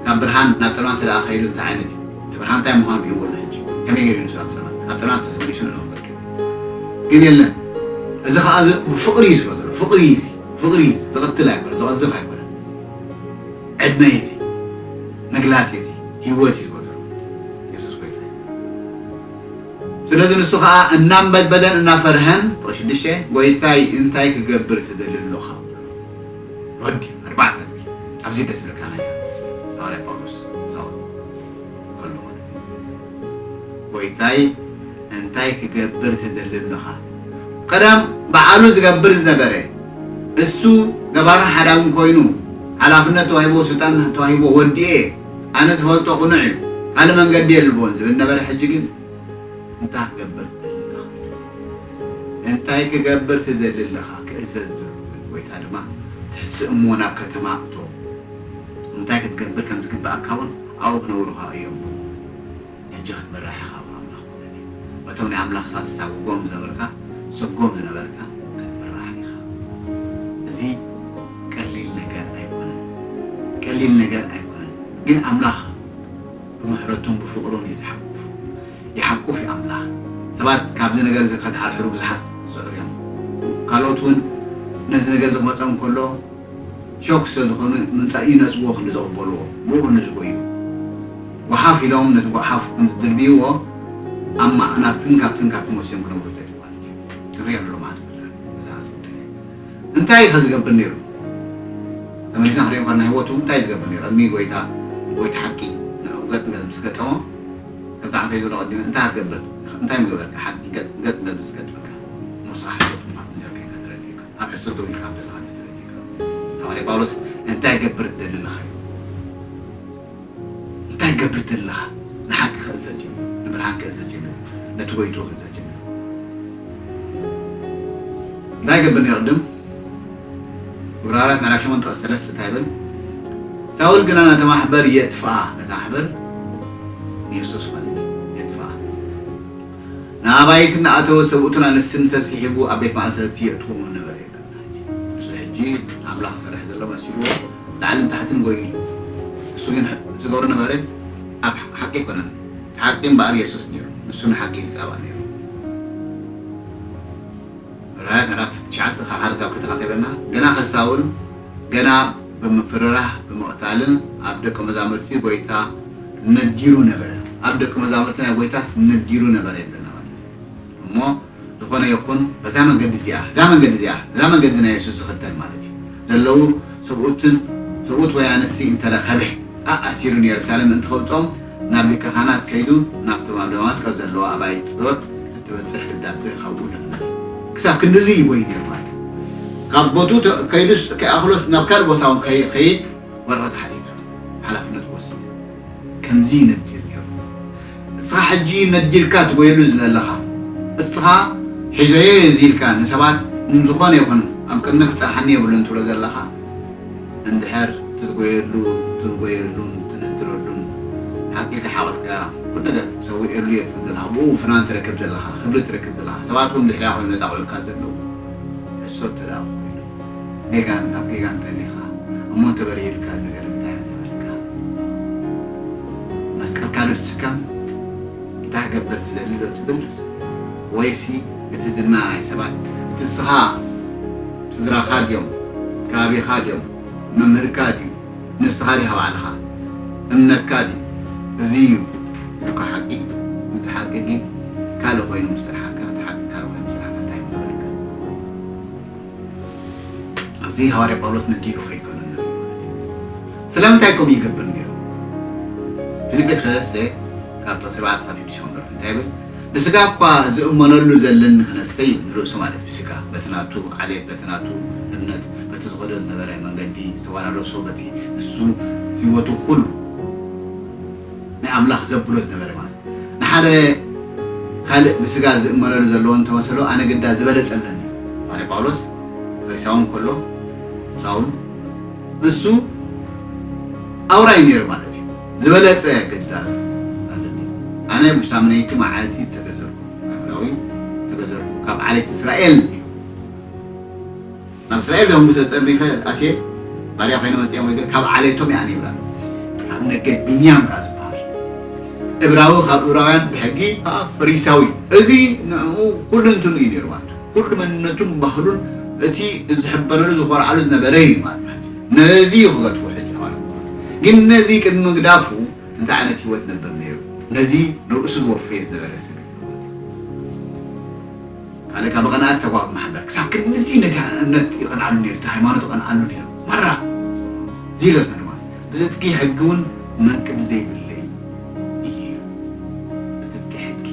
ካብ ብርሃን ናብ ጸልማት እንተ ከይዱ እንታይ ዓይነት እዩ እቲ ብርሃን እንታይ ምዃኑ እዩ ወላ ሕጂ ከመይ ገይሩ ንሱ ኣብ ጸልማት ኣብ ጸልማት ተመሊሱ ንዕኡ ክፈርድ እዩ ግን የለን እዚ ከኣ እዚ ብፍቕሪ እዩ ዝበሎ ፍቕሪ እዩ እዚ ፍቕሪ እዩ እዚ ዝቕትል ኣይኮነ ዝቐዝፍ ኣይኮነ ዕድመይ እዚ ምግላጽ እዚ ሂወት እዩ ዝበገሮ የሱስ ጎይታ እዩ ስለዚ ንሱ ከኣ እናንበድበደን እናፈርሀን ቁጥሪ ሽዱሽተ ጎይታይ እንታይ ክገብር ትደሊ ኣሎኻ ወዲ ኣርባዕተ ነጥቢ ኣብዚ ደስ ዝብለካ ናይ ሃዋርያ ጳውሎስ ሳውል ከሎ ማለት እዩ ጎይታይ እንታይ ክገብር ትደሊ ኣሎኻ ቀደም ባዓሉ ዝገብር ዝነበረ እሱ ገባርን ሓዳግን ኮይኑ ሓላፍነት ተዋሂብዎ ስልጣን ተዋሂብዎ ወዲኤ ኣነ ዝፈልጦ ቅኑዕ እዩ ካልእ መንገዲ የልቦን ዝብል ነበረ ሕጂ ግን እንታይ ክገብር ትደሊ ኣለኻ እንታይ ክገብር ትደሊ ኣለኻ ክእዘዝ ድሉ ጎይታ ድማ ትሕስእ እሞ ናብ ከተማ እቶ እንታይ ክትገብር ከም ዝግብኣካ እውን ኣብኡ ክነብሩ ከኣ እዮም እሞ ሕጂ ክትምራሕ ኢኻ ብ ኣምላኽ ማለት እዩ በቶም ናይ ኣምላኽ ሳትሳጉጎም ዝነበርካ ሰጎም ዝነበርካ ክትምራሕ ኢኻ እዚ ቀሊል ነገር ኣይኮነን ቀሊል ነገር ኣይኮነን ግን ኣምላኽ ብምሕረቱን ብፍቅሩን እዩ ዝሓቁፍ ይሓቁፍ እዩ ኣምላኽ ሰባት ካብዚ ነገር እዚ ከትሓርሕሩ ብዙሓት ዝጽዕሩ እዮም ካልኦት ውን ነዚ ነገር እዚ ክመጾም ከሎ ሸውክ ሰለዝኾኑ ምምጻእ እዩ ነጽግዎ ክንዲ ዝቕበልዎ ብእኡ ንዝጎ እዩ ጎሓፍ ኢሎም ነቲ ጎሓፍ ክንዲ ዝድልብይዎ ኣብ ማዕናብትን ካብትን ካብትን ወሲዮም ክነብሩ ይደልዩ ማለት እዩ ክንሪኦ ኣሎ መዓልቲ ብዙሕ ብዛዕባ እዚ ጉዳይ እዚ እንታይ እዩ ከ ዝገብር ነይሩ ተመሊስና ክንሪኦ እንከለና ህይወቱ እንታይ እዩ ዝገብር ነይሩ ቅድሚ ጎይታ ጎይታ ሓቂ ንዕኡ ገጽ ንገጽ ምስ ገጠሞ ከምቲ ዓንተይ ዝበሎ ቀዲመ እንታይ ክትገብር እንታይ ምገበርካ ሓቂ ገጽ ንገጽ ምስ ገጠመካ ሞሳ ሓሶት ምዃኑ ጀርከይ ከትረድዩካ ኣነሰ ዶ ኢካ ብደል ሓንተ ተረዲእካ ሃዋርያ ጳውሎስ እንታይ ይገብር ትደሊ ኣለካ ኢሉ እንታይ ትገብር ትደሊ ኣለካ ንሓቂ ክእዘዝ ጀሚሩ ንብርሃን ክእዘዝ ጀሚሩ ነቲ ጎይትኡ ክእዘዝ ጀሚሩ እንታይ ይገብር ነይሩ ቅድም ዕብራውያት ምዕራፍ ሸሞንተ ቅጽ ሰለስተ እንታይ ይብል ሳውል ግና ነቲ ማሕበር የጥፍኣ ነቲ ማሕበር ንየሱስ ማለት እዩ ንኣባይቲ እናኣተወ ሰብኡትን ኣንስትን ሰሲሒጉ ኣብ ቤት ማእሰርቲ የእትዎም ነበረ ይብል ናህጂ። ንሱ ሕጂ ንኣምላኽ ዝሰርሕ ዘሎ መሲልዎ ላዕልን ታሕትን ጎዩ ኣሎ። ንሱ ግን ዝገብሮ ነበረ ኣብ ሓቂ ኣይኮነን። እቲ ሓቂ እምበኣር የሱስ ነይሩ። ንሱ ንሓቂ እዩ ዝጻባእ ነይሩ። ራእይ ምዕራፍ ትሽዓተ ካብ ሓደ ክሳብ ክልተ ከንታይ ይብለና? ገና ከሳውል ገና ብምፍርራህ ብምቕታልን ኣብ ደቀ መዛሙርቲ ጎይታ ነጊሩ ነበረ ኣብ ደቂ መዛሙርቲ ናይ ጎይታስ ነጊሩ ነበረ ይብለና ማለት እዩ እሞ ዝኾነ ይኹን በዛ መንገዲ እዚኣ እዛ መንገዲ እዚኣ እዛ መንገዲ ናይ የሱስ ዝኽተል ማለት እዩ ዘለዉ ሰብኡትን ሰብኡት ወይ ኣንስቲ እንተረኸበ ኣኣሲሩ ንየሩሳሌም ምእንቲ ከውጽኦም ናብ ሊቀ ካህናት ከይዱ ናብቶም ኣብ ደማስቆስ ዘለዋ ኣባይቲ ጸሎት እትበጽሕ ደብዳቤ ካብኡ ለመነ ክሳብ ክንድዚ ይጎይ ነይሩ ማለት ካብ ቦቱ ከይዱስ ከይኣኽሎስ ናብ ካልእ ቦታ እውን ከይኸይድ ወረቐት ሓቲቱ ሓላፍነት ክወስድ ከምዚ ይነግር ነይሩ። እስኻ ሕጂ ነዲልካ ትጎየሉ ዝለለኻ እስኻ ሒዘዮ እየ እዚ ኢልካ ንሰባት ን ዝኾነ ይኹን ኣብ ቅድመ ክጸንሓኒ የብሉን ትብሎ ዘለኻ እንድሕር ትትጎየሉ ትጎየሉን ትንድረሉን ሓቂ ከሓቐፍካያ ኩሉ ነገር ሰዊኤሉ እየ ትብል ዘለኻ ብኡ ፍናን ትረክብ ዘለኻ ክብሪ ትረክብ ዘለኻ ሰባት ውን ድሕሪያ ኮይኖም ዘጣቕዑልካ ዘለዉ ሕሶት ተደኣ ጌጋን ኣብ ጌጋ እንተሊኻ እሞ እንተበሪህልካ ነገር እንታይ ምገበርካ መስቀልካ ዶ ትስከም እንታይ ክገብር ትደሊ ዶ ትብል ወይሲ እቲ ዝና ናይ ሰባት እቲ ንስኻ ስድራኻ ድዮም ከባቢኻ ድዮም መምህርካ ድዩ ንስኻ ዲኻ ባዕልኻ እምነትካ ድዩ እዚ እዩ ኢልካ ሓቂ እቲ ሓቂ ግን ካልእ ኮይኑ ምስ ጸንሓካ እቲ ሓቂ ካልእ ኮይኑ ምስ ጸንሓካ እንታይ ምገበርካ ኣብዚ ሃዋርያ ጳውሎስ ነዲኡ ክኸይድ ከሎ ንርኢ ማለት እዩ። ስለምንታይ ከምኡ ይገብር ነይሩ? ፊልጵ ሰለስተ ካብ ጥቕሲ ኣርባዕተ ክሳብ ሽዱሽተ ክንበብ እንታይ ይብል? ብስጋ እኳ ዝእመነሉ ዘለኒ ክነሰ ይብል፣ ንርእሱ ማለት ብስጋ በቲ ናቱ ዓሌት፣ በቲ ናቱ እምነት፣ በቲ ዝኸዶ ዝነበረ መንገዲ ዝተወራረሶ፣ በቲ ንሱ ህይወቱ ኩሉ ናይ ኣምላኽ ዘብሎ ዝነበረ ማለት እዩ። ንሓደ ካልእ ብስጋ ዝእመረሉ ዘለዎ እንተ መሰሎ፣ ኣነ ግዳ ዝበለጸ ኣለኒ። ሃዋርያ ጳውሎስ ፈሪሳዊ እንከሎ፣ ሳውል ንሱ ኣውራ እዩ ነይሩ ማለት እዩ። ዝበለጸ ግዳ ኣለኒ። ኣነ ብሳምነይቲ መዓልቲ እተገዘርኩ፣ ኣይሁዳዊ እተገዘርኩ፣ ካብ ዓሌት እስራኤል እዩ። ናብ እስራኤል ደንጉ ተጠርኒፈ ኣትየ ባርያ ኮይነ መጺኣ እሞ ግን ካብ ዓሌቶም እያ ይብላ ካብ ነገድ ብንያም ከኣ ዝበሃል እብራዊ ካብ እብራውያን ብሕጊ ከኣ ፈሪሳዊ እዚ ንዕኡ ኩሉንትኑ እዩ ነይሩ ማለት ኩሉ መንነቱን ባህሉን እቲ ዝሕበነሉ ዝኾርዓሉ ዝነበረ እዩ ማለት ነዚ እዩ ክገድፎ ሕጂ ከዋል ግን ነዚ ቅድሚ ምግዳፉ እንታይ ዓይነት ህይወት ነበር ነይሩ ነዚ ንርእሱ ዝወፈየ ዝነበረ ሰብ ካልእ ካብ ቐናኣት ተጓግ ማሕበር ክሳብ ክንድዚ ነቲ እምነት ይቐንኣሉ ነይሩ እቲ ሃይማኖት ይቐንኣሉ ነይሩ ማራ ዚሎ ሰርባት ብጽድቂ ሕጊ ውን መንቅብ ዘይብለይ እየ ኢሉ ብጽድቂ ሕጊ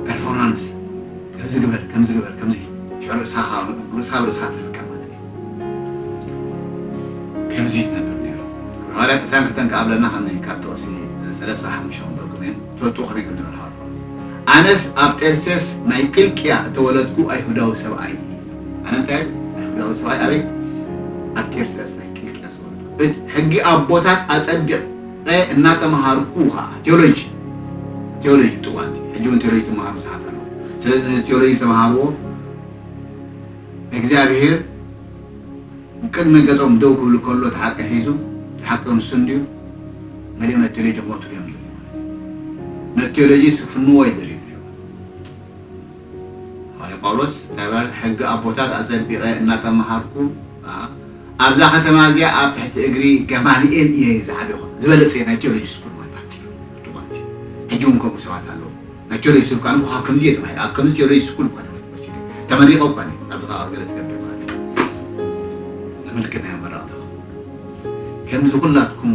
ፐርፎርማንስ ከምዚ ግበር ከምዚ ግበር ከምዚ ሽዑ ርእሳ ካብ ርእሳ ኣብ ርእሳ ትርከብ ማለት እዩ ከምዚ ዝነብር ነይሩ ክብሪ ሃዋርያ ዕስራን ክልተን ከኣ ኣብለና ከም ካብ ጥቕሲ ሰለስተ ሓሙሽተ ክንበልኩም እየ ትፈልጥዎ ከመይ ከም ዝነበረ ሃዋርያ ጳውሎስ ኣነስ ኣብ ጤርሴስ ናይ ቂልቅያ እተወለድኩ ኣይሁዳዊ ሰብኣይ እየ ኣነ እንታይ እብል ኣይሁዳዊ ሰብኣይ ኣበይ ኣብ ጤርሴስ ናይ ቂልቅያ ዝተወለድኩ እድ ሕጊ ኣቦታት ኣጸድቅ ቐ እናተምሃርኩ ኸዓ ቴዎሎጂ ቴዎሎጂ ጥዋንቲ ሕጂ እውን ቴዎሎጂ ትምሃሩ ብዙሓት ኣለዉ ስለዚ ነዚ ቴዎሎጂ ዝተምሃርዎ እግዚኣብሄር ኣብ ቅድሚ ገጾም ደው ክብል ከሎ እቲ ሓቂ ሒዙ እቲ ሓቂ ክንሱ እንድዩ ገሊኦም ነቲ ቴሎጂ ክመትሉ እዮም ዝደልዩ ማለት እዩ ነቲ ቴሎጂ ስክፍንዎ ይደልዩ ሃዋርያ ጳውሎስ እንታይ ይብል ሕጊ ኣቦታት ኣጸቢቐ እናተማሃርኩ ኣብዛ ከተማ እዚኣ ኣብ ትሕቲ እግሪ ገማልኤል እየ ዝዓበኹ ዝበለጸ ናይ ቴዎሎጂ ስኩል ማለት ሕጂ እውን ከምኡ ሰባት ኣለዉ ናይ ቴሎጅ ስብ ካን እኳ ከምዚ እየ ተማሂረ ኣብ ከምዚ ቴሎጅ ስኩል እኳ ነጥብ ወሲደ ተመሪቀ እኳ እየ ኣብዚ ካኣ ገለ ትገብር ማለት እዩ ነመልክት ናይ ኣመራቅታኹም ከምዚ ኩላትኩም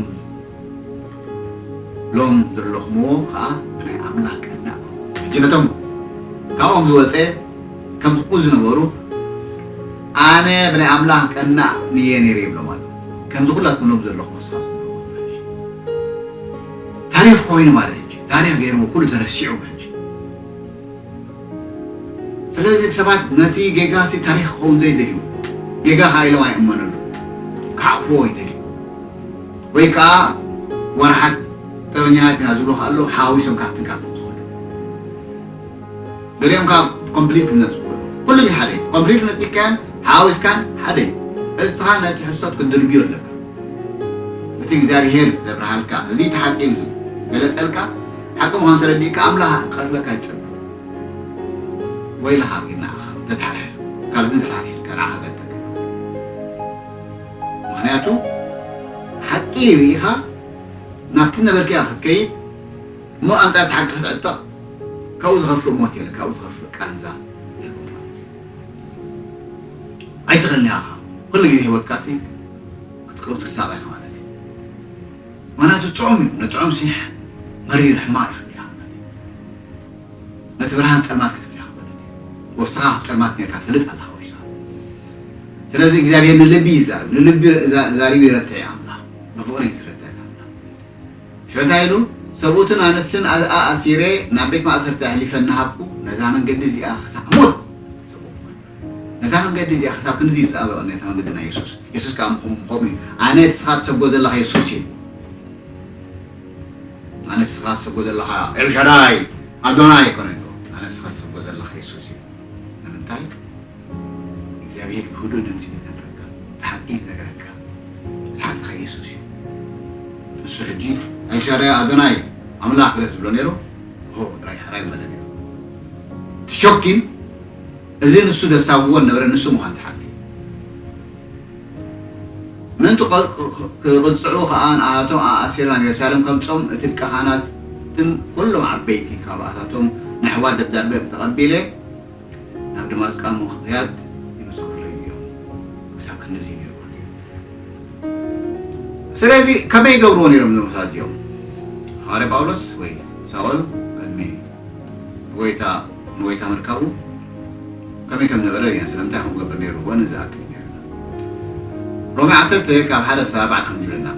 ሎም ዘለኹምዎ ካኣ ብናይ ኣምላኽ ቀናእ ኮንኩም ሕጂ ነቶም ካብኦም ዝወጸ ከምኡ ዝነበሩ ኣነ ብናይ ኣምላኽ ቀናእ ንየ ነይረ ይብሎም ኣሎ ከምዚ ኩላትኩም ሎም ዘለኹም ወሳኹም ታሪኽ ኮይኑ ማለት እዩ ታሪኽ ገይርዎ ኩሉ ተረሲዑ ሕጂ ስለዚ ሰባት ነቲ ጌጋሲ ታሪኽ ክኸውን ዘይደልዩ ጌጋ ከኣ ኢሎም ኣይእመነሉ ክዓቅፍዎ ይደልዩ ወይ ከኣ ወራሓት ጠበኛታት ኢና ዝብሉ ከኣ ኣለዉ ሓዋዊሶም ካብትን ካብትን ዝኸዱ ገሊኦም ከኣ ኮምፕሊት ዝነጽጉ ኣለዉ። ኩሉን ዩ ሓደ ዩ። ኮምፕሊት ነጺግካዮን ሓዋዊስካን ሓደ ዩ። እስኻ ነቲ ሕሶት ክትድርብዮ ኣለካ። እቲ እግዚኣብሄር ዘብርሃልካ እዚ እቲ ሓቂ ኢሉ ዝገለጸልካ ሓቂ ምዃኑ ተረዲእካ ኣምላኽ ክቀትለካ ይጸበ። ወይልኻ ኪድ ንዓኻ ተተሓርሕር ካብዚ ተተሓርሒርካ ንዓኻ ክቀትለካ ዩ። ምኽንያቱ ሓቂ ርኢኻ ናብቲ ዝነበርካዮ ክትከይድ እሞ ኣንጻር እቲ ሓቂ ክትዕጦ ካብኡ ዝኸፍእ ሞት የለን፣ ካብኡ ዝኸፍእ ቃንዛ የልቦን ማለት እዩ። ኣይትኸልያ ኢኻ ኩሉ ግዜ ህይወትካሲ ክትቅብጽ ክሳብ ኢኻ ማለት እዩ። ምኽንያቱ ጥዑም እዩ፣ ንጥዑም ሲሕ መሪር ሕማቕ እዩ ክትብል ኢኻ ማለት እዩ። ነቲ ብርሃን ጸልማት ክትብል ኢኻ ማለት እዩ። ወስኻ ኣብ ጸልማት ኔርካ ትፈልጥ ኣለኻ ወስኻ። ስለዚ እግዚኣብሄር ንልቢ ይዛረብ፣ ንልቢ ዛሪቡ ይረትዕ እዩ ኣምላኽ፣ ብፍቕሪ እዩ ዝረትዕ። ሸታ ኢሉ፣ ሰብኡትን ኣንስትን ኣኣሲረ ናብ ቤት ማእሰርቲ ኣሕሊፈ እናሃብኩ፣ ነዛ መንገዲ እዚኣ ኽሳዕ ሞት ዝጸበቕኩ ነበርኩ። ነዛ መንገዲ እዚኣ ኽሳብ ክንድዚ ዝጸበቐ ኔርታ መንገዲ ናይ የሱስ። የሱስ ከኣ ምኹም ምኸምኡ እዩ። ኣነ እቲ ስኻ ትሰብጎ ዘለኻ የሱስ እየ። ኣነ እቲ ስኻ ትሰብጎ ዘለኻ ኤልሻዳይ፣ ኣዶናይ ኣይኮነን እኮ። ኣነ እቲ ስኻ ትሰብጎ ዘለኻ የሱስ እዩ። ንምንታይ እግዚኣብሄር ብህዱእ ድምጺ ዝነግረካ እቲ ሓቂ ዝነግረካ እቲ ሓቂ ከኣ የሱስ እዩ ንሱ ሕጂ ኣይሻራያ ኣዶናይ ኣምላኽ ድረስ ዝብሎ ነይሩ ሆ ጥራይ ሕራይ ምበለ ነይሩ እቲ ሾኪን እዚ ንሱ ዘሳብዎ ዝነበረ ንሱ ምዃን እቲ ሓቂ ምእንቲ ኪቕጽዑ ኸኣ ንኣኣቶም ኣኣሲረ ናብ የሩሳሌም ከምጽኦም እቲ ሊቀ ኻህናትን ኵሎም ዓበይቲ ኻብኣታቶም ንኣሕዋት ደብዳበ ተቐቢለ ናብ ደማስቃ ምኽያድ ይምስክሩለይ እዮም ክሳብ ክንድዚ ጌርዎ ነይሩ ስለዚ ከመይ ይገብርዎ ነይሮም እዞም ሰባት እዚኦም ሃዋርያ ጳውሎስ ወይ ሳውል ቅድሚ ጎይታ ንጎይታ ምርካቡ ከመይ ከም ነበረ ርኢና ስለምንታይ ከምኡ ክገብር ነይርዎ ነዚ ዝኣክል ይነግረና ሮሜ ዓሰርተ ካብ ሓደ ክሳብ ኣርባዕተ ከምዚ ይብለና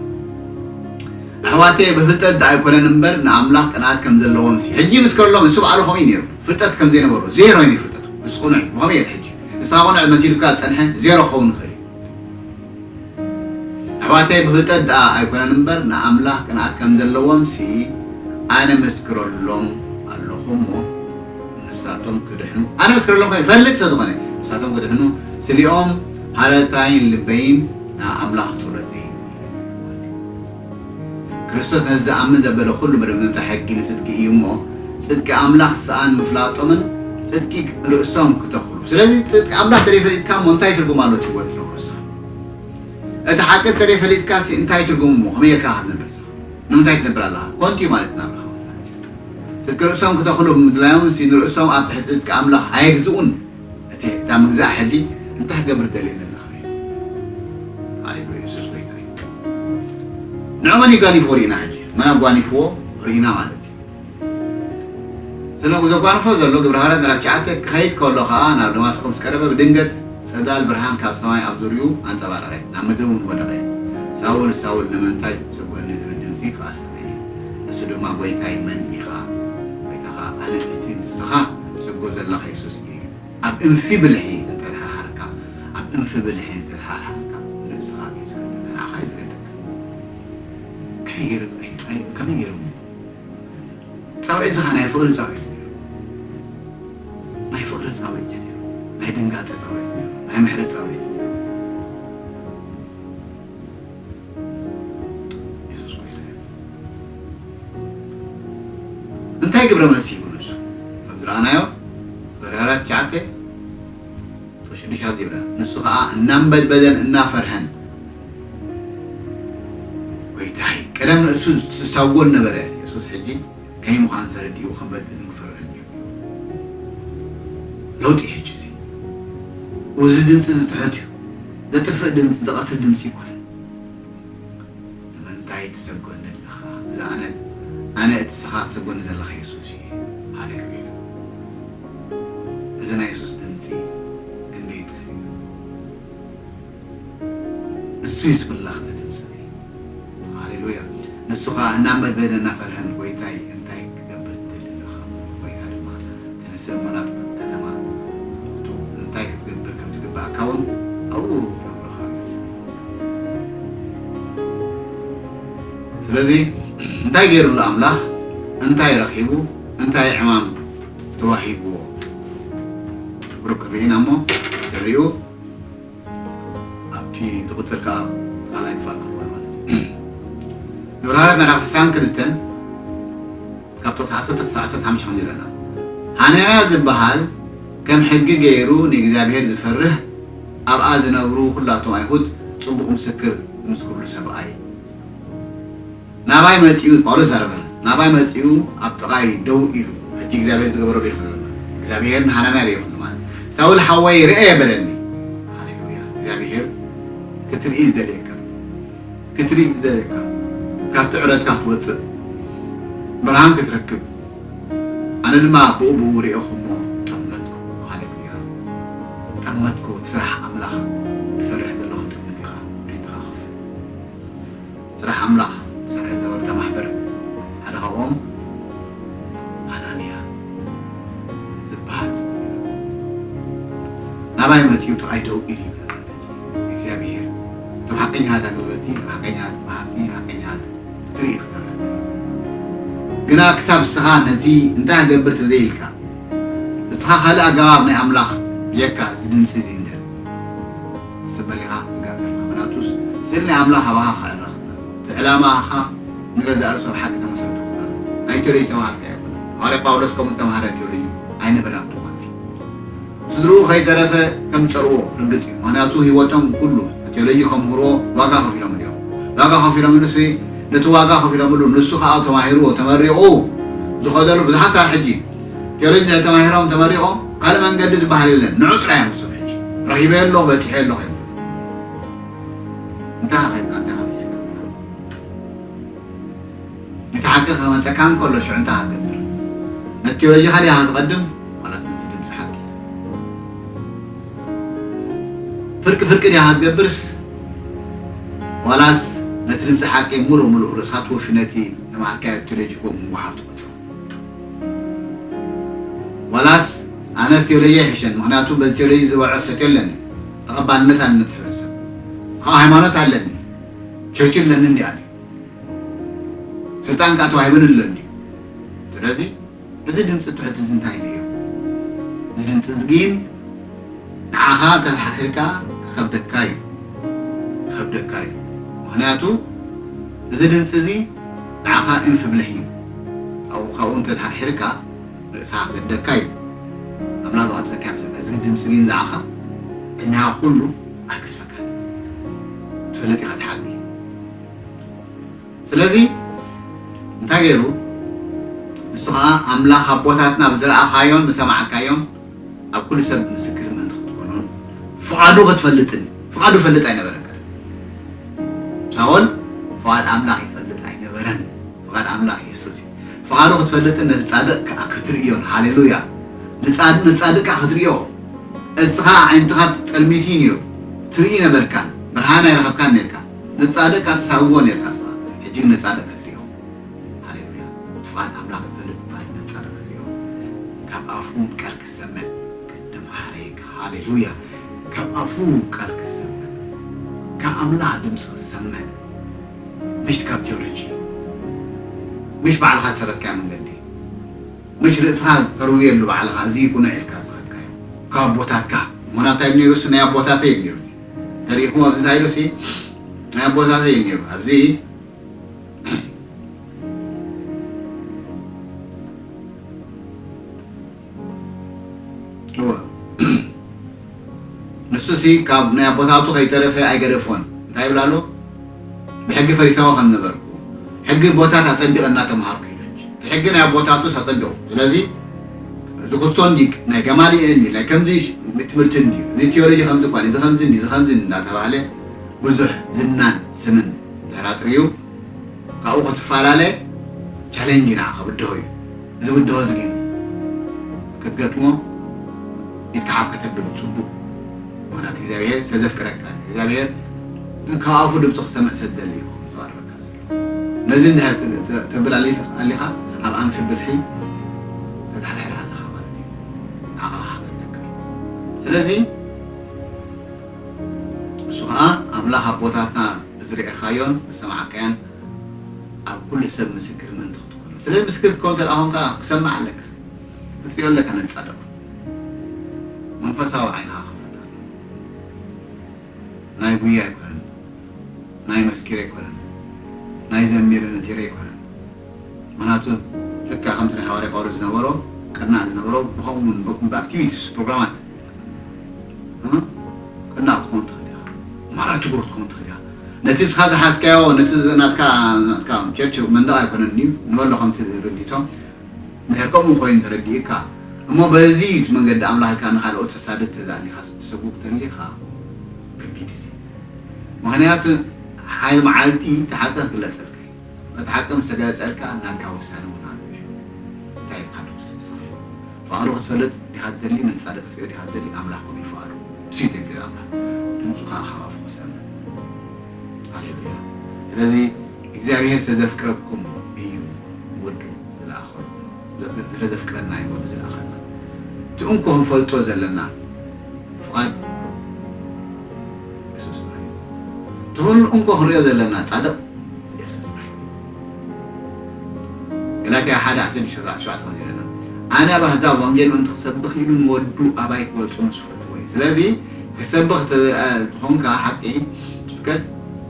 ኣሕዋተየ ብፍልጠት ደኣ ኣይኮነን እምበር ንኣምላኽ ቅንኣት ከም ዘለዎም ሲ ሕጂ ይምስክረሎም ንሱ በዓሉ ከምኡ እዩ ነይሩ ፍልጠት ከም ዘይነበሮ ዜሮ እዩ ፍልጠቱ ንሱ ቅኑዕ እዩ ብኸመይ እየ ሕጂ ንስኻ ቅኑዕ መሲሉካ ዝጸንሐ ዜሮ ክኸውን ይኽእል እዩ ኣሕዋተይ ብፍልጠት ደኣ ኣይኮነን እምበር ንኣምላኽ ቅንኣት ከም ዘለዎምሲ ኣነ እመስክረሎም ኣለኹ እሞ ንሳቶም ክድሕኑ ኣነ እመስክረሎም ከ ይፈልጥ ስለ ዝኾነ ንሳቶም ክድሕኑ ስሊኦም ሃረታይን ልበይን ንኣምላኽ ጸሎተይን ክርስቶስ ነቲ ዝኣምን ዘበለ ዅሉ መደምደምታ ሕጊ ንጽድቂ እዩ እሞ፣ ጽድቂ ኣምላኽ ሰኣን ምፍላጦምን ጽድቂ ርእሶም ክተኽሉ። ስለዚ ጽድቂ ኣምላኽ ተደይ ፈሊጥካ እሞ እንታይ ትርጉም ኣሎ እቲ ህይወት ትነብሮ እስኻ? እቲ ሓቂ ተደይ ፈሊጥካሲ እንታይ ትርጉም እሞ ከመይ ጌርካ ኢኻ ትነብር እስኻ? ንምንታይ ትነብር ኣለኻ? ኮንቱ እዩ ማለት ናብራኻ ወትሩ ሓጺር። ጽድቂ ርእሶም ክተኽሉ ብምድላዮምሲ ንርእሶም ኣብ ትሕቲ ጽድቂ ኣምላኽ ኣየግዝኡን። እቲ እታ ምግዛእ ሕጂ እንታይ ክገብር ደልየ ነለኻ እዩ ኣኢሉ የሱስ ጎይታ እዩ ንዑ መን ይጋኒፍዎ ርኢና ሕጂ መን ኣጓኒፍዎ ርኢና ማለት እዩ ስለዚ ዘጓንፎ ዘሎ ግብረ ሃዋርያት ምዕራፍ ትሽዓተ ክኸይድ ከሎ ከኣ ናብ ደማስቆ ምስ ቀረበ ብድንገት ጸዳል ብርሃን ካብ ሰማይ ኣብ ዙርይኡ ኣንጸባረቐ ናብ ምድሪ እውን ወደቐ ሳውል ሳውል ንምንታይ ትጽውዕኒ ዝብል ድምጺ ከኣ ዝሓተትኩ እዩ ንሱ ድማ ጎይታይ መን ኢኻ ጎይታኻ ኣነ እቲ ንስኻ ትሰግዶ ዘለኻ የሱስ እዩ ኣብ እንፊ ብልሒ እንተተሓርሓርካ ኣብ እንፊ ብልሒ እንተተሓርሓርካ ርእስኻ እዩ ዝገደካ ንዓኻ እዩ ዝገደካ ከመይ ገይሩ ከመይ ገይሩ እሞ ጻውዒት ዝኻ ናይ ፍቕሪ ጻውዒት ነይሩ ናይ ፍቕሪ ጻውዒት እዩ ነይሩ ናይ ድንጋጸ ጻውዒት ነይሩ ናይ ምሕረት ጻውዒት የሱስ ጎይታ እዩ እንታይ ግብረ መልሲ ይብሉ ንሱ ከም ዝረኣናዮ በርሃራት ትሽዓተ ቁፅሪ ሽዱሽተ ኣብዚ ይብለና ንሱ ከዓ እናንበድበደን እናፈርሀን ጎይታይ ቀደም ንእሱ ዝሳጎን ነበረ የሱስ ሕጂ ከይ ምዃን ተረዲኡ ክበድልን ክፈርሕን ጀሚሩ። ለውጢ እዩ ሕጂ እዚ። ኡዚ ድምጺ እዚ ትሑት እዩ። ዘጥፍእ ድምጺ ዘቐትል ድምጺ ኣይኮነን። ንምንታይ ትሰጎኒ ኣለኻ? እዚ ኣነ ኣነ እቲ እስኻ ትሰጎኒ ዘለኻ የሱስ እየ። ሃሌሉያ! እዚ ናይ የሱስ ድምጺ ክንደይ ጥዑም እዩ። እሱይ ስምላኽ እዚ ድምጺ እዚ ሃሌሉያ ንሱ ከኣ እናመገነ እናፈርሀን ጎይታይ እንታይ ክትገብር ትደሊ ኣለኻ ምበሎ ጎይታ ድማ ተነሰ እሞ ናብ ከተማ ኡቱ እንታይ ክትገብር ከም ዝግብኣካ ውን ኣብኡ ክነግሩኻ እዩ ስለዚ እንታይ ገይሩ ኣሎ ኣምላኽ እንታይ ረኺቡ እንታይ ዕማም ተዋሂብዎ ብሩክ ርኢና እሞ ድሕሪኡ ኣብቲ ዝቕጽል ከኣ ካልኣይ ክፋል ክኸውን ማለት እዩ። ግብረ ሃገራት ናይራ ዕስራን ክልተን ካብ ጥቕሲ ዓሰርተ ክሳዕ ዓሰርተ ሓሙሽተ ከም ዝረና ሃኔራ ዝበሃል ከም ሕጊ ገይሩ ንእግዚኣብሄር ዝፈርህ ኣብኣ ዝነብሩ ኩላቶም ኣይሁድ ጽቡቕ ምስክር ዝምስክርሉ ሰብኣይ ናባይ መጺኡ ጳውሎስ ዛረበና ናባይ መጺኡ ኣብ ጥቓይ ደው ኢሉ ሕጂ እግዚኣብሄር ዝገበሮ ዶ ይኽነረና እግዚኣብሄር ንሃናንያ ዶ ይኽንማ ሳውል ሓወይ ርኤ በለኒ ሃሌሉያ እግዚኣብሄር ክትርኢ ዝደልየካ ክትርኢ ዝደልየካ ካብቲ ዕረትካ ክትወጽእ ብርሃን ክትረክብ ኣነ ድማ ብኡ ብኡ ርኤኹ እሞ ጠመትኩ ሃሌሉያ ጠመትኩ እቲ ስራሕ ኣምላኽ ዝሰርሕ ዘሎ ክትጥምት ኢኻ ዓይንትኻ ክፈት ስራሕ ኣምላኽ ክሰርሕ ዝነበሮ እታ ማሕበር ሓደ ካብኦም ኣናንያ ዝብሃል ነይሩ። ናባይ መጺኡ ጥቓይ ደው ኢሉ ይብለካ ነቲ እግዚኣብሄር እቶም ሓቀኛታት ኣገልገልቲ፣ እቶም ሓቀኛታት መሃርቲ፣ ሓቀኛታት ክትርኢ ክገብረካ እዩ። ግና ክሳብ እስኻ ነዚ እንታይ ክገብር ተዘይኢልካ እስኻ ካልእ ኣገባብ ናይ ኣምላኽ ብጀካ እዚ ድምጺ እዚ ንደሊ። ትጽበል ኢኻ ትጋገ ኢኻ ምናቱስ ስር ናይ ኣምላኽ ኣባኻ ክዕረኽ እምበር እቲ ዕላማኻ ንገዛእ ርእሱ ኣብ ሓቂ ተመስረተ ክኸውን ኣለዎ ናይ ቴሎጂ ተማሃርቲ ኣይኮነን ሃዋርያ ጳውሎስ ከምኡ ዝተማህረ ቴሎጂ ኣይነበረን ኣብቲ እዋን እቲ ስድርኡ ከይተረፈ ከም ዝጸልዎ ርግጽ እዩ ምኽንያቱ ህይወቶም ኩሉ ቴሎጂ ከምህርዎ ዋጋ ከፊሎምሉ እዮም ዋጋ ከፊሎምሉሲ ነቲ ዋጋ ከፊሎምሉ ንሱ ከኣ ተማሂርዎ ተመሪቑ ዝኸደሉ ብዙሓት ሳብ ሕጂ ጀርኛ ተማሂሮም ተመሪቆም ካልእ መንገዲ ዝበሃል የለን ንዑ ጥራይ እዮም ክስብ ሕጂ ረኺበ ኣለኹ በጺሐ ኣለኹ እዮም እንታይ ረኺብካ እንታይ ከመፀካ ነቲ ሓቂ ከመፀካ እንከሎ ሽዑ እንታይ ክትገብር ነቲ ቴዎሎጂ ካሊኣ ክትቐድም ዋላስ ነቲ ድምፂ ሓቂ ፍርቂ ፍርቂ ዲኣ ክትገብርስ ዋላስ ነቲ ድምፂ ሓቂ ሙሉእ ሙሉእ ርእስካ ትወፊ ነቲ ተማሃርካዮ ቴዎሎጂ ከምኡ ምጉሓፍ ትቐትሉ ዋላስ ኣነስ ቴሎየ ይሕሸኒ ምክንያቱ በዚ ቴሎጂ ዝበዐ ሰከ ኣለኒ ተቀባልነት ኣለኒ ኣብቲ ሕብረተሰብ ካኣ ሃይማኖት ኣለኒ ቸርች ኣለኒ እንዲያ ድዩ ስልጣን ካኣ ተዋሂቡኒ ኣሎ እንዲዩ ስለዚ እዚ ድምፂ ትሑት እዚ እንታይ ድዩ እዚ ድምፂ እዚ ግን ንዓኻ ተሓርሒርካ ክኸብደካ እዩ ክኸብደካ እዩ ምክንያቱ እዚ ድምፂ እዚ ንዓኻ እንፍ ብልሕ እዩ ካብኡ ካብኡ እንተ ተሓርሒርካ ርእስኻ ክህደካ እዩ ኣምላኽ ዝቐትለካ ይምሰልካ እዚ ግድም ስሚን ዝዓኻ ዕድሜኻ ኩሉ ኣይክትፈካን ክትፈልጥ ኢኻ ትሓቢ ስለዚ እንታይ ገይሩ ንሱ ኸኣ ኣምላኽ ኣቦታትና ብዝረኣኻዮን ብሰማዕካዮን ኣብ ኩሉ ሰብ ምስክር ምእንቲ ክትኮኖን ፍቓዱ ክትፈልጥን ፍቓዱ ይፈልጥ ኣይነበረን ቀደም ሳኦል ፍቓድ ኣምላኽ ይፈልጥ ኣይነበረን ፍቓድ ኣምላኽ የሱስ እዩ ፍቓዱ ክትፈልጥን ነቲ ጻድቕ ከዓ ክትርእዮን ሃሌሉያ ንጻድቅ ከዓ ክትርእዮ እስኻ ኣዒንትኻ ጥልሚት እዩ ነይሩ ትርኢ ነበርካን ብርሃን ኣይረኸብካን ነርካ ንጻድቅ ከዓ ትሳብዎ ነርካ እስኻ ሕጂ ግን ንጻድቅ ክትርእዮ ሃሌሉያ ፍቓድ ኣምላኽ ክትፈልጥ ምባል ነጸረ ክትሪኦ ካብ ኣፉ ቃል ክትሰምዕ ቅድም ሓረየካ ሃሌሉያ ካብ ኣፉ ቃል ክትሰምዕ ካብ ኣምላኽ ድምጺ ክትሰምዕ ምሽት ካብ ቴዎሎጂ ምሽ ባዕልኻ ዝሰረትካዮ መንገዲ ምሽ ርእስኻ ተርውየሉ ባዕልኻ እዚ ቁኑዕ ኢልካ ዝኸድካዮ ካብ ኣቦታትካ ምክንያቱ እንታይ ነይሩ እሱ ናይ ኣቦታተይ እዩ ነይሩ ተሪኢኹም ኣብዚ ታይ ኢሉ እሲ ናይ ኣቦታተይ እዩ ነይሩ ኣብዚ ንሱሲ ካብ ናይ ኣቦታቱ ከይተረፈ ኣይገደፎን እንታይ ይብል ኣሎ ብሕጊ ፈሪሳዊ ከም ነበርኩ ሕጊ ቦታት ኣፀቢቐ እናተምሃርኩ ኢለ እቲ ሕጊ ናይ ኣቦታቱስ ኣፀቢቑ ስለዚ እዚ ክሶ እንዲ ናይ ገማልኤል እንዲ ናይ ከምዚ ትምህርቲ እንዲ እዚ ቴዎሎጂ ከምዚ እኳ እዚ ከምዚ እንዲ እዚ ከምዚ እንዲ እናተባህለ ብዙሕ ዝናን ስምን ተራጥሪዩ ካብኡ ክትፋላለ ቻሌንጅ ንዓኻ ብድሆ እዩ እዚ ብድሆ እዚ ግን ክትገጥሞ ኢድካ ሓፍ ከተብል ጽቡቕ ምክንያቱ እግዚኣብሔር ስለዘፍቅረካ እግዚኣብሔር ካብ ኣፉ ድምፂ ክሰምዕ ሰደሊ እዩ ዝቐርበካ ዘሎ ነዚ እንድሕር ተብል ኣሊኻ ኣብ ኣንፊ ብልሒ ተታሕሕር ኣለኻ ማለት እዩ ንዓኻ ክሓተካ ስለዚ ንሱ ኸኣ ኣምላኽ ኣቦታትና ብዝርኤኻዮን ብዝሰማዕካዮን ኣብ ኩሉ ሰብ ምስክር ምእንቲ ክትኮኖ። ስለዚ ምስክር ክትከውን እንተ ደኣ ኮንካ ክሰምዕ ኣለካ። ክትርእዮ ኣለካ ነቲ ጻድቕ። መንፈሳዊ ዓይንኻ ክኽፈት ኣለዎ። ናይ ጉያ ኣይኮነን፣ ናይ መስኪር ኣይኮነን፣ ናይ ዘሚረ ነጢረ ኣይኮነን። ምኽንያቱ ልክዕ ከምቲ ናይ ሃዋርያ ጳውሎስ ዝነበሮ ቅናዕ ዝነበሮ ብኸምኡ ውን ብኣክቲቪቲስ ፕሮግራማት ቅናዕ ክትኮን ትኽእል ኢኻ ማራ ትጉህ ክትኮን ትኽእል ኢኻ ነቲ እስኻ ዝሓዝካዮ ነቲ ናትካ ናትካ ቸርች መንደቕ ኣይኮነን እዩ ንበሎ ከምቲ ርድኢቶ ድሕር ከምኡ ኮይኑ ተረዲእካ እሞ በዚ መንገዲ ኣምላኽ ኢልካ ንካልኦት ተሳድድ ተዳሊኻ ስትሰብክ ተሊኻ ከቢድ እዚ ምክንያቱ ሓደ መዓልቲ ተሓልካ ክግለጸልካ እዩ እቲ ሓቂ ምስ ተገለጸልካ ናትካ ውሳነ ውን ኣሎ እዩ እንታይ ኢልካ ትውስን እስኪ ፍቃዱ ክትፈልጥ ዲካ ትደሊ ነቲ ጻድቅ ክትሪኦ ዲካ ትደሊ ኣምላክ ከምኡ እዩ ፍቃዱ ንሱ እዩ ደንጌል ኣምላክ ድምጹ ከኣ ካብ ኣፉ ክሰምዕ ሃሌሉያ ስለዚ እግዚኣብሄር ስለ ዘፍቅረኩም እዩ ወዱ ዝለኣኸሉ። ስለ ዘፍቅረና እዩ ወዱ ዝልኣኸልና። እቲ እንኮ ክንፈልጦ ዘለና ፍቓድ የሱስ ጥራይ እዩ። እቲ ኹሉ እንኮ ክንሪኦ ዘለና ጻድቕ የሱስ ጥራይ እዩ። ገላትያ ሓደ ዓሰርተ ሽዱሽተ ዓሰርተ ሸውዓተ ከምዚ ይብለና ኣነ ኣብ ኣህዛብ ወንጌል ምእንቲ ክሰብኽ ኢሉ ንወዱ ኣባይ ክገልጾ ምስ ዝፈትዎ እዩ። ስለዚ ክትሰብኽ እንተ ዝኾንካ ሓቂ ስብከት፣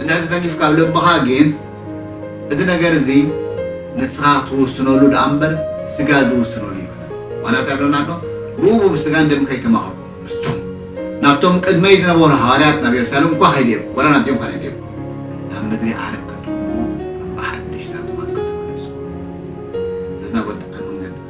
እንድሕር ተተንኪፍካ ኣብ ልብኻ ግን እዚ ነገር እዚ ንስኻ ትውስነሉ ድኣ እምበር ስጋ ዝውስነሉ ኣይኮነን። ምኽንያቱ እንታይ ይብለና ኣሎ? ብኡ ብስጋን ደምን ከይተማኸርኩ ምስቶም ናብቶም ቅድመይ ዝነበሩ ሃዋርያት ናብ የሩሳሌም እኳ ከይደ እየ፣ ዋላ ናብዚኦም እኳ ከይደ እየ፣ ናብ ምድሪ ዓረብ ከድኹም እሞ ከም ብሓድሽ ናብቶም ኣዝክም ተመለሱ። ስለዚ ናብ ወዲ ኣንሙን ገንደ።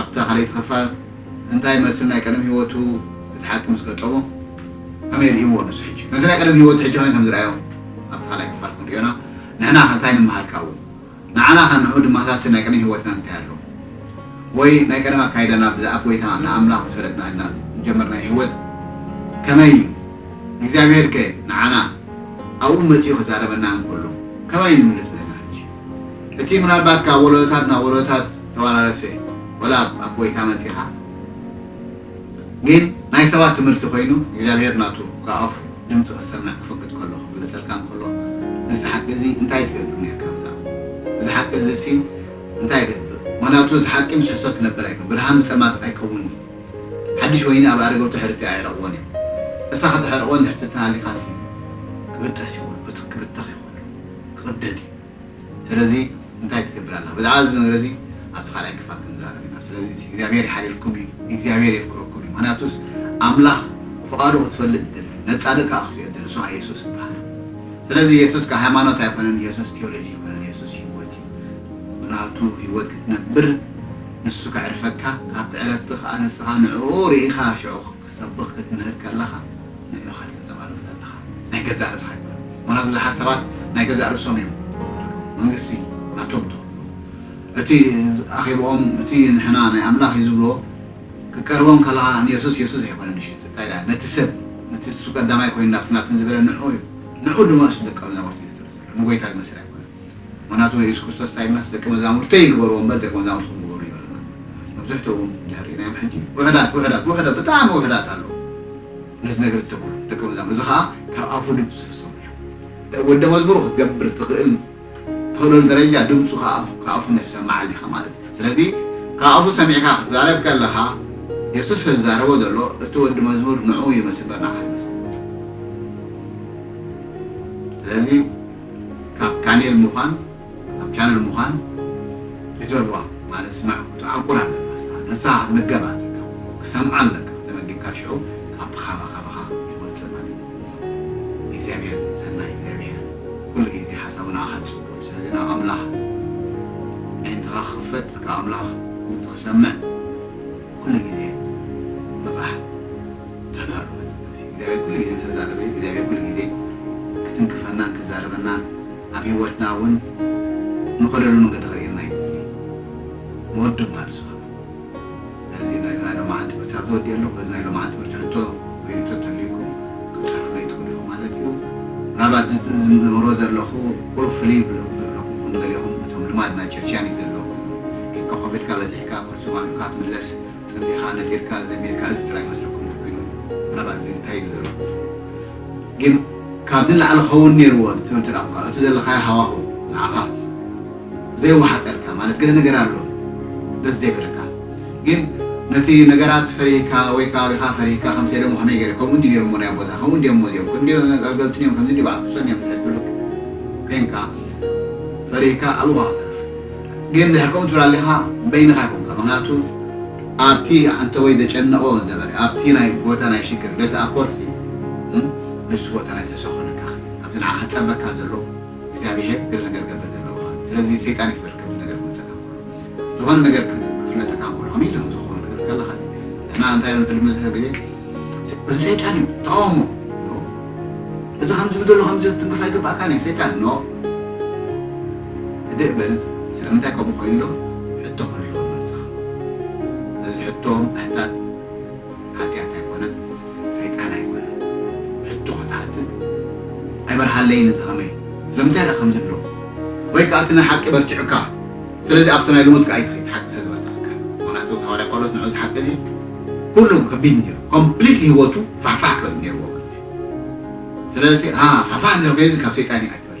ኣብታ ካልኣይቲ ክፋል እንታይ ይመስል ናይ ቀደም ሂወቱ እቲ ሓቂ ምስ ገጠሞ ከመይ ሪኢዎ ንሱ ሕጂ ከምቲ ናይ ቀደም ሂወቱ ሕጂ ከመይ ከም ዝረኣዮ ኣብቲ ካልኣይ ክፋል ክንሪኦ ኢና ንሕና ከ እንታይ ንምሃር ካብኡ ንዓና ከ ንዑ ድማሳስል ናይ ቀደም ሂወትና እንታይ ኣሎ ወይ ናይ ቀደም ኣካይዳና ብዛኣብ ጎይታ ንኣምላኽ ምስ ፈለጥና ኢልና ዝጀመርናዮ ሂወት ከመይ እዩ ንእግዚኣብሄር ከ ንዓና ኣብኡ መጺኡ ክዛረበና እንከሎ ከመይ እዩ ዝምልስ ንሕና ሕጂ እቲ ምናልባት ካብ ወለዶታት ናብ ወለዶታት ተዋራረሰ ወላ ኣብ ኣቦይካ መጺኻ ግን ናይ ሰባት ትምህርቲ ኮይኑ እግዚኣብሄር ናቱ ካብ ኣፉ ድምጺ ክትሰምዕ ክፈቅድ ከሎ ክግለጸልካ እንከሎ እዚ ሓቂ እዚ እንታይ ትገብር ኔርካ ብዛዕባ እዚ ሓቂ እዚ ሲ እንታይ ይገብር ምክንያቱ እዚ ሓቂ ምስ ሕሶት ክነብር ኣይከ ብርሃን ብጸልማት ኣይከውን ሓድሽ ወይኒ ኣብ ኣረገው ተሕርቲ ኣየረቕዎን እዮም እሳ ከተሕርቕዎን ድሕርቲ ትናሊኻሲ ክብጠስ ይኹን ብትኽ ክብተኽ ይኹን ክቕደድ እዩ። ሰለዚ እንታይ ትገብር ኣለኻ? ብዛዕባ እዚ ነገር እዚ ኣብቲ ካልኣይ ክፋል ክንዛረብ ኢና። ሰለዚ እግዚኣብሄር ይሓልየልኩም እዩ፣ እግዚኣብሄር የፍቅረኩም እዩ። ምኽንያቱስ ኣምላኽ ፍቓዱ ክትፈልጥ ይደሊ እዩ፣ ነጻነት ከኣ ክትሪኦ ይደሊ፣ ንሱ ከኣ የሱስ ይበሃል። ሰለዚ የሱስ ከኣ ሃይማኖት ኣይኮነን፣ የሱስ ቲዮሎጂ ኣይኮነን፣ የሱስ ህይወት እዩ። ብናቱ ህይወት ክትነብር ንሱ ከዕርፈካ፣ ካብቲ ዕረፍቲ ከኣ ንስኻ ንዕኡ ርኢኻ ሽዑ ሰብኽ ክትምህር ከለኻ ንዕኡ ኢኻ ተንጸባርቕ ዘለኻ ናይ ገዛእ ርእስኻ ኣይኮነን ምኽንያቱ ብዙሓት ሰባት ናይ ገዛእ ርእሶም እዮም መንግስቲ ናቶም ትኽብሉ እቲ ኣኼብኦም እቲ ንሕና ናይ ኣምላኽ እዩ ዝብልዎ ክቀርቦም ከለኻ ንየሱስ የሱስ ኣይኮነን እሺ እንታይ ድኣ ነቲ ሰብ ነቲ እሱ ቀዳማይ ኮይኑ ናብቲ ናብትን ዝበለ ንዕኡ እዩ ንዕኡ ድማ እሱ ደቀ መዛሙርቲ እዩ ዝጥሪ ዘሎ ንጎይታ ዝመስል ኣይኮነን ምኽንያቱ የሱስ ክርስቶስ እንታይ ኢሉናስ ደቂ መዛሙርተይ ንበርዎ እምበር ደቂ መዛሙርትኹም ግበሩ ኣይበለናን። መብዛሕትኦም እንድሕር ርኢናዮም ሕጂ ውሑዳት ውሑዳት ውሑዳት ብጣዕሚ ውሑዳት ኣለዉ ነዚ ነገር ዝተገብሩ ደቂ መዛሙር እዚ ከኣ ካብ ኣፉ ድምጺ ስለ ዝሰምዑ እዮም። እንታይ ወዲ መዝሙሩ ክትገብር ትኽእል ትኽእለሉ ደረጃ ድምጹ ካብ ኣፉ እንድሕር ሰማዕ ኣሊኻ ማለት እዩ። ስለዚ ካብ ኣፉ ሰሚዕካ ክትዛረብ ከለኻ የሱስ ስለ ዝዛረቦ ዘሎ እቲ ወዲ መዝሙር ንዕኡ ይመስል እምበር ንዓኻ ኣይመስልን። ስለዚ ካብ ካኔል ሙኻን ካብ ቻነል ሙኻን ሪዘርቫ ማለት ስማዕ ክትዓቁር ኣለካ ስኻ ንስኻ ክትምገብ ኣለካ ክትሰምዖ ኣለካ ከተመጊብካ ሽዑ ካብ ብኻባ ካባኻ ይወጽእ ማለት እዩ እግዚኣብሔር ሰናይ እግዚኣብሔር ኩሉ ግዜ ሓሳቡ ንዓኻ ዝጽቡቕ እዩ ስለዚ ናብ ኣምላኽ ኣዒንትኻ ክኽፈት ካብ ኣምላኽ ድምጺ ክሰምዕ ኩሉ ግዜ ንቓሕ ተጋሩ በዚበዚ እግዚኣብሔር ኩሉ ግዜ ምስ ተዛረበ እዩ እግዚኣብሔር ኩሉ ግዜ ክትንክፈናን ክዛረበናን ኣብ ሂወትና እውን ንኸደሉ መንገዲ ከርእየና እዩ ዝደሊ መወደምታ ንሱ ከኣ ስለዚ ናይዛ ሎማዓንቲ ትምህርቲ ኣብዚ ወዲኤ ኣለኹ በዚ ናይ ሎማዓንቲ ትምህርቲ ሕቶ ወይ ሪኢቶ እንተልዩኩም ክትፀርፉለይ ትኽእሉ ኢኹም ማለት እዩ ምናልባት እዚ ዝምህሮ ዘለኹ ቁሩብ ፍልይ ብለኩም ንገሊኹም እቶም ልማድ ናይ ቸርችያን እዩ ዘለኩም ኬንካ ኮፍ ኢልካ በዚሕካ ቁርሲ ማሚቕካ ትምለስ ጸሊኻ ነጢርካ ዘሚርካ እዚ ጥራይ ፈስረኩም ተኮይኑ ምናልባት እዚ እንታይ ኢሉ ዘሎ ግን ካብዚ ንላዕሊ ክኸውን ኔርዎ ትብል እንተ ኳንካ እቲ ዘለኻዮ ሃዋሁ ንዓኻ ዘይወሓጠልካ ማለት ገለ ነገር ኣሎ ደስ ዘይብለካ ግን ነቲ ነገራት ፈሪህካ ወይ ከባቢኻ ፈሪህካ ከም ሴደሞ ከመይ ገይረ ከምኡ እንዲ ኔሩሞ ናይ ኣቦታ ከምኡ እንዲዮሞ እዚኦም ክንዲ ኣገልገልትን እዮም ከምዚ እንዲ በዓል ክሶን እዮም ዝሕትብሉ ኮንካ ፈሪህካ ኣብኡ ክትርፍ ግን ድሕር ከምኡ ትብል ኣሊኻ በይንኻ ኣይኮንካ ምኽንያቱ ኣብቲ ኣንተወይ ዘጨነቆ ነበረ ኣብቲ ናይ ቦታ ናይ ሽግር ለሰ ኣኮርሲ ንሱ ቦታ ናይ ተስፋ ኮነካ ክብል ኣብዚ ንዓኻ ጸበካ ዘሎ እግዚኣብሄር ገለ ነገር ገብረ ዘለውኻ ስለዚ ሰይጣን ይፈል ከምዚ ነገር ክመጸካ ከሎ ዝኾነ ነገር ክፍለጠካ ከሎ ከመይ ኢሉ ዝኸውን ክብል ከለኻ ንሕና እንታይ ንፈልጥ መብዛሕትኡ ግዜ እዚ ሰይጣን እዩ ተቃወሞ እዚ ከምዚ ዝብሎ ከምዚ ትንክፍ ኣይግባእካን እዩ ሰይጣን ኖ ህድእ በል ስለምንታይ ከምኡ ኮይንሎ ሕቶ ክህልዎ መርጽኻ ነዚ ሕቶ ምሕታት ሓጥያት ኣይኮነን ሰይጣን ኣይኮነን ሕቶ ክትሓትት ኣይበርሃለይን እዚ ከመይ ስለምንታይ ድኣ ከምዚ ኣሎ ወይ ከኣ እቲ ናይ ሓቂ በርቲዑካ ስለዚ ኣብቲ ናይ ልሙድ ከኣ ኣይትኺድ ሓቂ ስለ ዝበርትዓካ ምክንያቱ ሃዋርያ ጳውሎስ ንዑ እዚ ሓቂ እዚ ኩሉ ከቢድ ነይሩ ኮምፕሊትሊ ህይወቱ ፋሕፋሕ ክብል ነይርዎ ማለት እዩ ስለዚ ሃ ፋሕፋሕ እንድሕር ኮይኑዚ ካብ ሰይጣን እዩ ኣይትበል